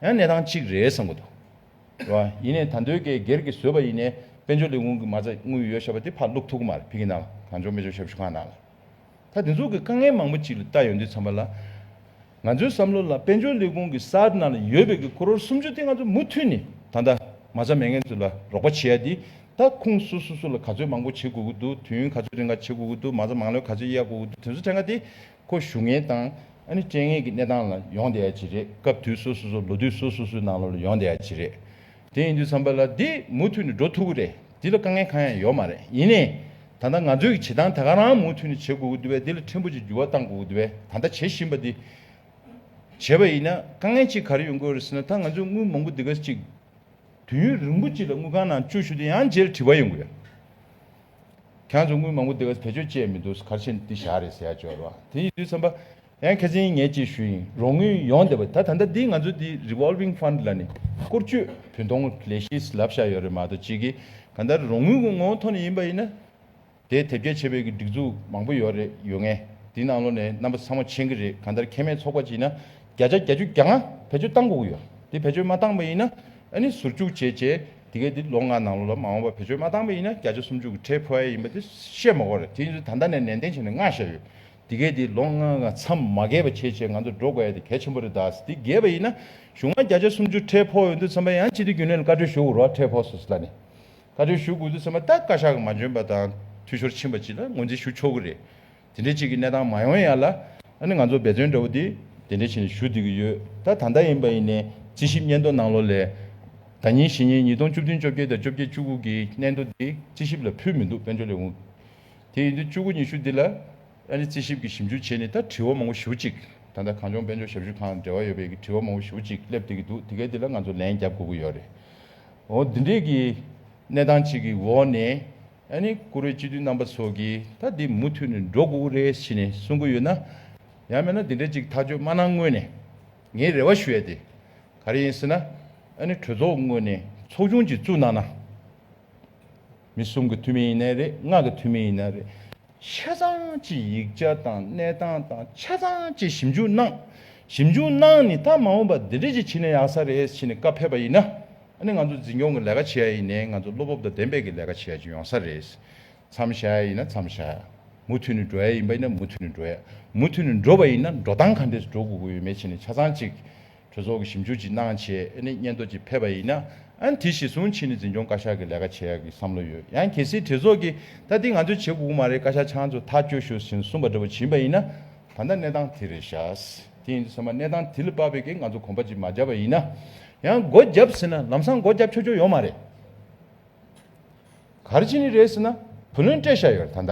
ཡང་གནས་སྟངས་གཅིག་རེད་བསམ་གི་འདུག། བ་ཡིན་ནས་ད་འདོད་ཀའི་སྒེར་གྱི་བཟོས་པ་ཡིན་ནས་དཔལ་འབྱོར་ལས་ཁུངས་ཀྱི་མ་རྩ་དངུལ་ཡོད་ཞེས་པ་དེ་ཕར་བླུགས་ཐུག་གི་མ་རེད་བི་གི་ནམ་གངས་ལྗོངས་དཔལ་འབྱོར་ཞབས་ཞུ་ཁང་ནང་ལ་ད་དེ་ཚོ་གི་དཀའ་ངལ་མང་པོ་ཅིག་ལ་བལྟ་ཡོང་དུས་ཚང་མ་ལ་ང་ཚོའི་བསམ་བློ་ལ་དཔལ་འབྱོར་ལས་ཁུངས་ཀྱི་སར་ནང་ལ་ཡོད་པའི་གི་ཁོ་རོར་སུམ་ཅུ་དེ་ང་ཚོ་མུ་མཐུད་ནས་ད་ལྟ་མ་རྩ་མེད་མཁན་ཚོ་ལ་རོགས་པ་བྱེད་ཡ་དེ་ད་ཁུངས་སུ་སུ་སུ་ལ་ག་ཚོད་མང་པོ་བྱེད་དགོས་ཀྱི་འདུག་དུས་ཡུན་ག་ཚོད་རིང་ག་བྱེད་དགོས་ཀྱི་འདུག་མ་རྩ་མང་ལོས་ག་ཚོད་གཡར་དགོས་ཀྱི་འདུག་དེ་ཚོ་དེ་འགའ་དེ་ཁོ་ཞུ་ངེས་དང། ཨ་ནི་སྤྲད་ངེས་ཀྱི་གནས་སྟངས་ལ་ཡོང་བསྡད་ཡ་ཅི་རེད་སྐབས་དུས་སོ་སོ་སོ་ལོ་དུས་སོ་སོ་སོའི་ནང་ལོ་ལ་ཡོང་བསྡད་ཡ་ཅི་རེད། དེ་ཡིན་དུས་བསམ་པ་ལ་འདི་མུ་མཐུད་ནས་འགྲོ་ཐུབ་ཀྱི་རེད་འདི་ལ་དཀའ་ངལ་གང་ཡང་ཡོད་མ་རེད་ཡིན་ནའི། ད་ལྟ་ང་ཚོའི་གྱི་བྱེད་སྟངས་དེ་ག་རང་མུ་མཐུད་ནས་བྱེད་དགོས་ཀྱི་འདུག་བས་འདི་ལ་ཕྲན་བུ་ཅིག་འགྱུར་བ་གཏང་དགོས་ཀྱི་འདུག་བས་ད་ལྟ་བྱེད་བཞིན་པ་འདི། བྱས་པ་ཡིན་ན་དཀའ་ངལ་ཅིག་ག་རེ་ཡོང་དགོས་རེད་ཟེར་ན་ད་ང་ཚོས་དངུལ་མང་པོ་འདི་ག་ཅིག། དུས་ཡུན་རིང་པོ་ཅིག་ལ་དངུལ་ཁང་ནང་བཅུག་ཞུ་དེ་ཡང་རྗེས་ལ་དྲི་བ་ཡོང་གི་ཡོད། གྱང་ཆུང་ངུ་མང་པོ་དེ་བས་བེད་སྤྱོད་བྱས་མི་འདུག་གར་ཕྱིན་འདི་བཞག་རེད་ཟེར་ཡ་འབྱོར་བ་དེ་ཡིན་དུས་བསམ་པ། ཡང་ཁེ་ཚིན་ངས་ཅིག་ཞུ་ཡིན་རོགས་དངུལ་ཡོང་བསྡད་པ་ད་ད་ལྟ་འདི་ང་ཚོ་འདི Revolving Fund ལ་ནི་བསྐོར་བསྐྱོད་བུན་གཏོང་ལས་གཞིས་ལབ་བཞག་ཡོད་རེད་མ་གཏོགས་ཅིག་གིས་ག་ད་རོགས་དངུལ་གི་ངོ་བོ་ཐོག་ནས་ཡིན་པ་ཡིན་ན། དེ་དེབ་སྐྱེལ་བྱེད་པའི་གི་སྒྲིག་འཛུགས་མང་པོ་ཡོད་རེད་ཡོད་ངེས་དེ་ནང་ལོགས་ནས་རྣམ་པ་ཚང་མ་མཆན་གི་རེད་ག་ད་ཁེ་མེད་ཚོགས་པ་ཅིག་ཡིན་ན་བརྒྱ་ཆ་བརྒྱ་ཅུ་གྱ་ང་བེད་སྤྱོད་བཏང་དགོས་གི་ཡོད་དེ་བེད་སྤྱོད་མ་བཏང་པ་ཡིན་ན། ཨ་ནི་ཟུར་བཅུག་བྱེད་ཅེས་དེ་གས་དེ་ལོ་ལྔ་ནང་ལོ་ལ་མ་འོངས་པར་བེད་སྤྱོད་མ་བཏང་པ་ཡིན་ན་བརྒྱ་ཆ་སུམ་ཅུ་གི་ཁྲལ་ཕུལ་ཨེ་ཡིན་པ་དེ་བཤད་མ་གོ་རེད་དེ་ཡིན་ཚུལ་ད་ལྟ་ནས་ནན་ཏན་བྱས་ནས་མངགས་བཞག་ཡོད་དེ་གས་དེ་ལོ་ལྔ་ལྔ་མཚམས་མ་གས་པ་བྱེད་ཅེས་ང་ཚོར་འགྲོ་དགོས་ཡ་དེ་གལ་ཆེན་པོ་རེད་ད་དེ་གས་པ་ཡིན་ན་གཞུང་ལ་བརྒྱ་ཆ་སུམ་ཅུ་ཁྲལ་ཕོག་ཡོད་འདུག་ཚམ་པ་ཡང་སྤྱི་འཐུས་རྒྱུན་ལས་ལ་བཀའ་འཁྲོལ་ཞུ་དགོས་རོགས་ཁྲལ་ཕོག་སོ་སོ་ལ་ནས་བཀའ་འཁྲོལ་ཞུ་དགོས་འདུག་ཚམ་པ་ད་བཀའ་ཤག་གི་མ་འཇོན་པ་དང་འཐུས་ཤོར་ཕྱིན་པ་ཅི་ལ་ངོས་འཛིན་ཞུ་ཆོག་གི་རེད། དེ་འདྲའི་ཅིག་གི་གནས་སྟངས་མ་ཡོང་ཡ་ལ། ཨ་ནི་ང་ཚོ་འབད་བརྩོན་འདྲ་བོ་དེ་དེ་འདྲ་བྱས་ནས་ཞུ་བསྡུ་གི་ཡོད་ད་ད་ལྟ་ཡིན་པ་ཡིན་ནས་རྩིས་ཞིབ་སྙན་ཐོ་གནང་ལོ་ལས། ད་ཉིན་ཞེ་གཉིས་ཉིས་སྟོང་བཅུ་བདུན་བཅོ་བརྒྱད་དང་བཅོ་བརྒྱད་བཅུ་དགུ་གི་སྙན་ཐོ་དེ་རྩིས་ཞིབ་ལ་ཕུལ་མི་འདུག་དཔལ་འབྱོར་ལས་ཁུངས་དེ་ཡིན་དུས་བཅུ་དགུ་ཉི་ཤུ་འདི་ལ་ཨ་ནི་རྩིས་ཞིབ་ཀྱི་ཞིབ་འཇུག་བྱས་ནས་ད་དྲི་བ་མང་བོ་ཞུ་ཅིག་ད་ལྟ་གངས་ལྗོངས་དཔལ་འབྱོར་ཞབས་ཞུ་ཁང་འབྲེལ་བ་ཡོད་པས་ཀྱི་དྲི་བ་མང་བོ་ཞུ་ཅིག་སླེབས་བསྡད་ཀྱི་འདུག་དེ་གའི་དེ་ལ་ང་ཚོ་ལན་རྒྱབ་དགོས་ཀྱི་ཡོད་རེད་འོ་འདི་འདྲའི་གི་གནས་སྟངས་ཅིག་གི་འོག་ནས། ཡང་ནི་ཀུ་རེ་སྤྱི་འཐུས་རྣམ་པ་སོགས་ཀྱིས་ད་འདི་མུ་མཐུད་ནས་འགྲོ་དགོས་ཀྱི་རེད་ཞེས་ནས་གསུང་གི་ཡོད་ན། ཡང་མེད་ན་འདི་འདྲའི་ཅིག་ཐག་གཅོད་མ་གནང་སྔོན་ནས་ངས་རེ་བ་ཞུ་ཡ་དེ་ག་རེ་ཡིན་ཟེར་ན། ཡང་ནི་གྲོས་ཚོགས་སྔོན་ནས་ཚོགས་ཆུང་ཅིག་བཙུགས་གནང་ན། མི་གསུམ་གྱི་འཐུས་མི་ཡིན་ནའི་རེད་ལྔ་གི་འཐུས་མི་ཡིན་ནའི་རེད། ཆ་ཚང་གཅིག་ཡིག་ཆ་དང་གནས་སྟངས་དང་ཆ་ཚང་གཅིག་ཞིབ་འཇུག་གནང། ཞིབ་འཇུག་གནང་ནི་ད་མ་འོངས་པ་འདི་འདྲས་ཀྱི་ཕྱི་ནས་ཡག་ས་རེད་ཕྱི་ནས་བཀའ་ཕེབས་པ་ཡིན་ན་ནི་ང་ཚོ་འཛིན་སྐྱོང་གི་ལས་ཀ་བྱེད་ཡ་ཡིན་ནས་ང་ཚོ་བློ་སྤོབས་དང་ལྡན་པས་ཀྱི་ལས་ཀ་བྱེད་ཡ་ཅིག་ཡོང་ས་རེད། མཚམས་བཞག་ཡ་ཡིན་ན་མཚམས་བཞག་ཡ། མུ་མཐུད་ནས་འགྲོ་ཡ་ཡིན་པ་ཡིན་ན་མུ་མཐུད་ནས་འགྲོ་ཡ། མུ་མཐུད་ནས་འགྲོ་བ་ཡིན་ན་འགྲོ་སྟངས་ག་འདྲས་སུ་འགྲོ་དགོས་ཀྱི་ཡོད་མེད་ཕྱི་ནས་ཆ་ཚང་གཅིག་གྲོས་ཚོགས་ཀྱི་ཞིབ་འཇུག་ཅིག་གནང་བྱས་ཨེ་ནི་སྙན་ཐོ་ཅིག་ཕེབས་པ་ཡིན་ན་ཨན་དེ་གཞི་བཟུང་ཕྱིན་ནི་འཛིན་སྐྱོང་བཀའ་ཤག་གི་ལས་ཀ་བྱས་ཡག་གི་བསམ་བློ་ཡོད་ཡང་གལ་སྲིད་གྲོས་ཚོགས་ཀྱིས་ད་འདི་ང་ཚོས་བྱེད་དགོས་ཀྱི་མ་རེད་བཀའ་ཤག་ཆང་ཚོ་ཐག་གཅོད་ཤོག་ཟིན་གསུངས་པ་འདྲ་པོ་བྱིན་པ་ཡིན་ན་ད་ལྟ་གནས་སྟངས་དེ་རེད་ཤག་དེ་ཡིན་དུ་ཟེར་མ་གནས་སྟངས་དེ་ལ་དཔག་པའི་གིས་ང་ཚོ་གོམ་པ་ཅིག་མ་བརྒྱབ་པ་ཡིན་ན་ཡང་སྒོ་བརྒྱབ་ཟེར་ན་ལམ་སང་སྒོ་བརྒྱབ་ཆོག་ཆོག་ཡོད་མ་རེད། ག་རེ་བྱེད་ནི་རེད་ཟེར་ན་བུ་ལོན་སྤྲད་ཤག་ཡོད་རེད་ད་ད།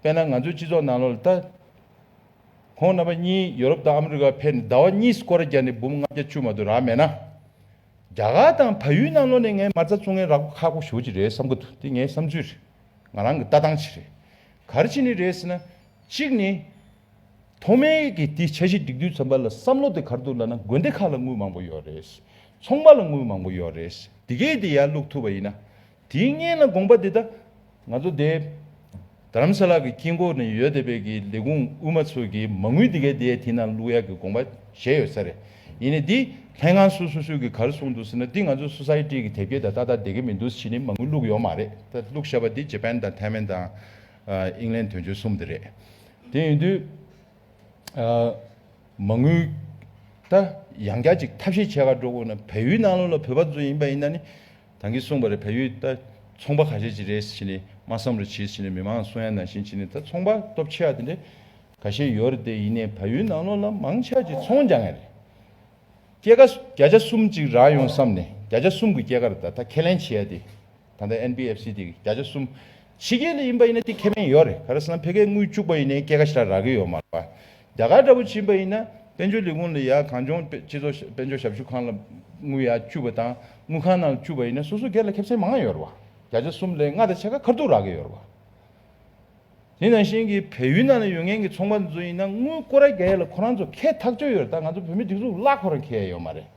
དཔེར་ན་ང་ཚོའི་སྤྱི་ཚོགས་ནང་ལོ་ལ་ལྟ། ཁོང་རྣམ་པ་གཉིས་ཡོ་རོབ་དང་ཨ་མི་རི་ཀར་ཕེབས་ནས་ཟླ་བ་གཉིས་སུ་སྐོར་བརྒྱ་ནས་འབུམ་ལྔ་བརྒྱ་བཅུ་མ་དུ་རག་མེད་ན། རྒྱ་གར་དང་ཕ་ཡུལ་ནང་ལོ་ནས་ངའི་མར་རྩ་བཙུགས་ངའི་ར་སྐོར་ཁག་པོ་ཞོ་གཅིག་རེད་བསམ་གི་འདུག་འདི་ངའི་བསམ་ཚུལ་རེད། ང་རང་གི་ལྟ་སྟངས་ཤིག་རེད། གར་ཅི་ནི་རེད་ཟེར་ན། གཅིག་ནི། ཐོག་མའི་གི་དེ་འཆར་གཞི་སྒྲིག་དུས་ཚོམ་པ་ལ་བསམ་བློ་དེ་གར་འདུག་ལ་ན་དགོན་སྡེ་ཁག་ལ་དངུལ་མང་པོ་ཡོད་རེད། ཚོང་པ་ལ་དངུལ་མང་པོ་ཡོད་རེད། དེ་གས་དེ་ཡར་བླུགས་ཐུབ་པ་ཡིན་ན། དེའི་བརྙན་ལ་དགོངས་པ་འདི་ལྟ། ང་ཚོ་འདས། དྷརམ་ས་ལ་གི་དཀྱིལ་འཁོར་ནས་ཡོལ་འདེབས་པའི་གི་ལེ་གུང་དབུས་མ་ཚོས་གི་མ་ངུས་འདི་གའི་འདི་ཡའི་དེ་ན་ལུག་ཡག་གི་དགོངས་པ་བཞེས་ཡོད་ས་རེད། ཡིན་ནའི་འདི་ལྷན་ཁང་སུ་སུ་སུས་གི་གར་གསུངས་འདུག་ཟེར་ན་འདི་ང་ཚོའི་སོ་སའི་ཏྲིའི་གི་དེབ་སྐྱེལ་དང་ཏག་ཏག་འདེད་གི་མི་འདུག་གཞི་ནི་མ་ངུས་ལུག་ཡོག་མ་རེད་ད་ལུག་ཤ་བ་འདི་ཇེ་པན་དང་ཐའི་ཝན་དང། ཨིང་ལན་དོན་གཅོད་གསུམ་འདི་རེད། དེ་ཡིན་དུས། མ་ངུས། ད་ཡང་སྐྱ་ཅིག་ཐབས་ཤེས་བྱས་ག་འགྲོ་དགོས་ན་བལ་ཡུལ་ནང་ལོག་ལ་བོད་པ་ཚོ་ཡིན་པ་ཡིན་ན་ནི། དང་གིས་གསུངས་པ་རེད་བལ་ཡུལ་ད་ཚོང་པ་ག་ཤེད་ཅིག་རེད་ཕྱི་ནས་མ་བསམ་རུ་བྱེད་ཕྱི་ནས་མི་མང་གསུང་ཡ་ན་བཞིན་ཕྱི་ནས་ད་ཚོང་པ་སྟོབས་ཆེ་བ་དེ་འདྲ་ག་ཤེད་ཡོད་རེད་དེ་ཡིན་ནས་བལ་ཡུལ་ནང་ལོག་ལ་མང་ཆ་ཅིག་ཚོང་རྒྱག་ངེས་རེད། སྐྱེད་ཀ་བརྒྱ་ཆ་གསུམ་ཅིག་རག་ཡོང་བསམ་ནས་བརྒྱ་ཆ་གསུམ་གི་སྐྱེད་ཀ་རེད་ད་ད་ཁས་ལེན་བྱེད་ཡ་དེ་ད་ད་ཨེན་བྷི་ཨེབ་སི་དེ་གི་བརྒྱ་ཆ་གསུམ་ཕྱི་རྒྱལ་ལ་ཡིན་པ་ཡིན་ན་དེ་ཁས་ལེན་ཡོད་རེད་ག་རེ་བསམ་ཕལ་སྐད་དངུལ་བཅུག་པ་ཡིན་ནས་སྐྱེད་ཀ་ཞིག་རག་གི་ཡོད་མ་རེད་པ། རྒྱ་གར་འདྲ་བོ་བྱིན་པ་ཡིན་ན་དཔལ་འབྱོར་ལས་ཁུངས་ལ་ཡང་གངས་ལྗོངས་སྤྱི་ཚོགས་དཔལ་འབྱོར་ཞབས་ཞུ་ཁང་ལ་དངུལ་ཡང་བཅུ་བ་དང་དངུལ་ཁང་ནང་ལ་བཅུ་བ་ཡིན་ན་སོ་སོའི་སྒེར་ལ་ཁེབས་ཚན་མང་ཡོད་ར་བ་བརྒྱ་ཆ་གསུམ་ལས་ལྔ་དང་ཕྱེད་ཀ་ཁར་དུ་རག་གི་ཡོད་ར་བ། དེ་ནང་བཞིན་གྱི་བལ་ཡུལ་ནང་ལ་ཡོད་མཁན་གྱི་ཚོང་པ་འདི་ཚོ་ཡིན་ན་དངུལ་བསྐུར་ར་རྒྱ་ཡས་ལ་ཁོ་རང་ཚོ་ཁེ་ཐག་ཆོད་ཡོད་ར་ད་ང་ཚོ་བོད་མི་འདི་ཚོ་ལ་ཁོ་རང་ཁེ་ཡས་ཡོད་མ་རེད།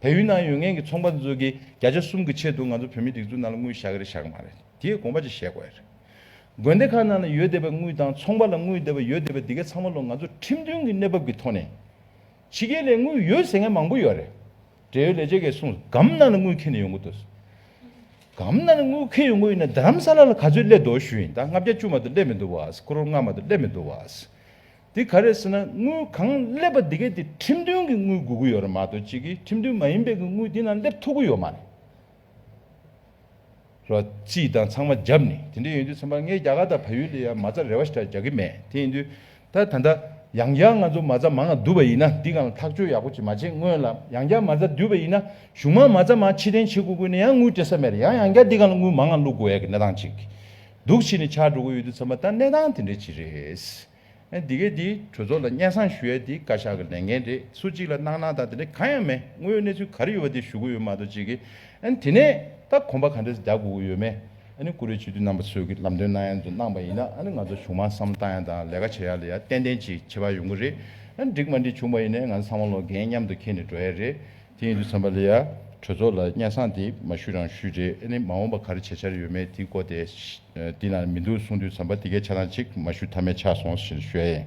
བལ་ཡུལ་ནང་ཡོད་མཁན་གྱི་ཚོང་པ་འདི་ཚོ་གིས་བརྒྱ་ཆ་གསུམ་གྱི་ཆེད་དུ་ང་ཚོ་བོད་མི་སྒྲིག་འཛུགས་ནང་ལ་དངུལ་བཞག་གི་རེད་བཞག་གི་མ་རེད་དེའི་དགོངས་པ་ཅིག་བཞེས་དགོས་ཡ་རེད། དགོན་སྡེ་ཁག་ནང་ལ་ཡོད་བསྡད་པའི་དངུལ་དང་ཚོང་པ་ལ་དངུལ་བསྡད་པ་ཡོད་བསྡད་པའི་འདི་གའི་ཚང་མ་ལོ་ང་ཚོ་ཁྲིམས་མཐུན་གྱི་གནས་བབ་ཀྱི་ཐོག་ནས། ཕྱི་རྒྱལ་ལས་དངུལ་ཡོད་ཟེར་མཁན་མང་པོ་ཡོད་རེད། འབྲེལ་ཡོད་ལས་བྱེད་འགས་གསུངས་སྒམ་ནང་ལ་དངུལ་འཁེལ་ནས་ཡོང་གི་འདུག་སྒམ་ནང་ལ་དངུལ་འཁེལ་ཡོང་གི་ཡོད་ན་རྡ་རམ་ས་ལ་ལ་ག་ཚོད་སླེབས་འདུག་ཞུ་ཡིན་ད་ལྔ་བརྒྱ་བཅུ་མ་གཏོགས་སླེབས་མི་འདུག་བ། ཁོ་རོ་ལྔ་མ་གཏོགས་སླེབས་མི་འདུག་བ། དེ་ག་རེད་ཟེར་ན་དངུལ་གང་སླེབས་པ་འདི་གའི་དེ་ཁྲིམས་མཐུན་གྱི་དངུལ་དགོས་ཀྱི་ཡོད་རེད་མ་གཏོགས་གཅིག་གིས་ཁྲིམས་མཐུན་མ་ཡིན་པའི་གི་དངུལ་དེ་ནང་སླེབས་ཐུབ་ཀྱི་ཡོད་མ་རེད། རོ། སྤྱི་དང་ཚང་མ་བརྒྱབ་ནས་དེ་འདྲས་ཡོང་དུས་ཚན་པ་ངས་རྒྱ་གར་དང་བལ་ཡུལ་ལ་ཡང་མ་རྩ་རེ་བ་ཞིག་གྲགས་རྒྱག་གི་མེད་དེ་ཡིན་དུས་ད་ད་ལྟ་ཡང་བསྐྱར་ང་ཚོ་མ་རྩ་མང་ང་བསྡུ་བ་ཡིན་ན་འདི་གང་ལ་ཐག་གཅོད་ཡག་པོ་ཅིག་མ་བྱེད་སྔོན་ལ་ཡང་བསྐྱར་མ་རྩ་བསྡུས་པ་ཡིན་ན་གཞུང་མང་མ་རྩ་མང་ཕྱི་གཏན་བྱེད་དགོས་དགོས་ནས་ཡང་དངུལ་སྤྲད་ས་མེད་རེད་ཡང་ཡང་བསྐྱར་འདི་གང་ལ་དངུལ་མང་ང་བླུག་དགོས་ཡག་གི་གནས་སྟངས་ཅིག་འདུག་ཕྱི་ནས་ཆགས་འགྲོ་གི་ཡོད་དུས་ཚན་པ་ད་གནས་སྟངས་དེ་འདྲས་ཅིག་རེད། འདི་གའི་དེའི་གྲོས་ཚོགས་ལ་སྙན་གསང་ཞུ་ཡས་དེའི་བཀའ་ཤག་གི་ལས་འགན་རེད་སུ་གཅིག་ལ་གནང་གནང་དང་དེ་འདྲ་གང་ཡང་མེད་དངོས་ཡོད་གནས་ཚུལ་ག་རེ་ཡོད་པ་དེ་ཞུ་གི་ཡོད་མ་གཏོགས་གཅིག་གིས་དེ་ནས་ད་གོམ་པ་ག་འདྲ་རྒྱག་དགོས་ཀྱི་ཡོད་མེད་ཀུ་རེ་སྤྱི་འཐུས་རྣམ་པ་ཚོས་གི་ལམ་སྟོན་གནང་ཡས་ཚོ་གནང་པ་ཡིན་ན་ང་ཚོ་གཞུང་མང་བསམ་བཏང་ཡ་དང་ལས་ཀ་བྱེད་ཡ་ལ་ཡ་ཏན་ཏན་གྱིས་བྱེད་པ་ཡོང་གི་རེད་འགྲིག་མ་འགྲིག་བྱུང་བ་ཡིན་ནས་ང་ཚོ་ཚང་མ་ལོ་རྒན་མཉམ་དུ་ཁེལ་ནས་འགྲོ་ཡས་རེད། དེ་ཡིན་དུས་ཚངས་པ་ལི་ཡ་གྲོས་ཚོགས་ལ་སྙན་སང་དེ་མ་ཞུས་རང་ཞུས་རེད་ཨེ་ནི་མ་འོངས་པ་ག་རེ་བྱེད་འཆར་ཡོད་མེད་དེ་གོ་དེ་དེ་ན་མི་འདུག་གསུངས་དུས་ཚངས་པ་དེ་གའི་ཆ་ལང་ཅིག་མ་ཞུས་ཐ་མའི་ཆགས་སོང་ཞེས་ཞུ་ཡ་ཡིན།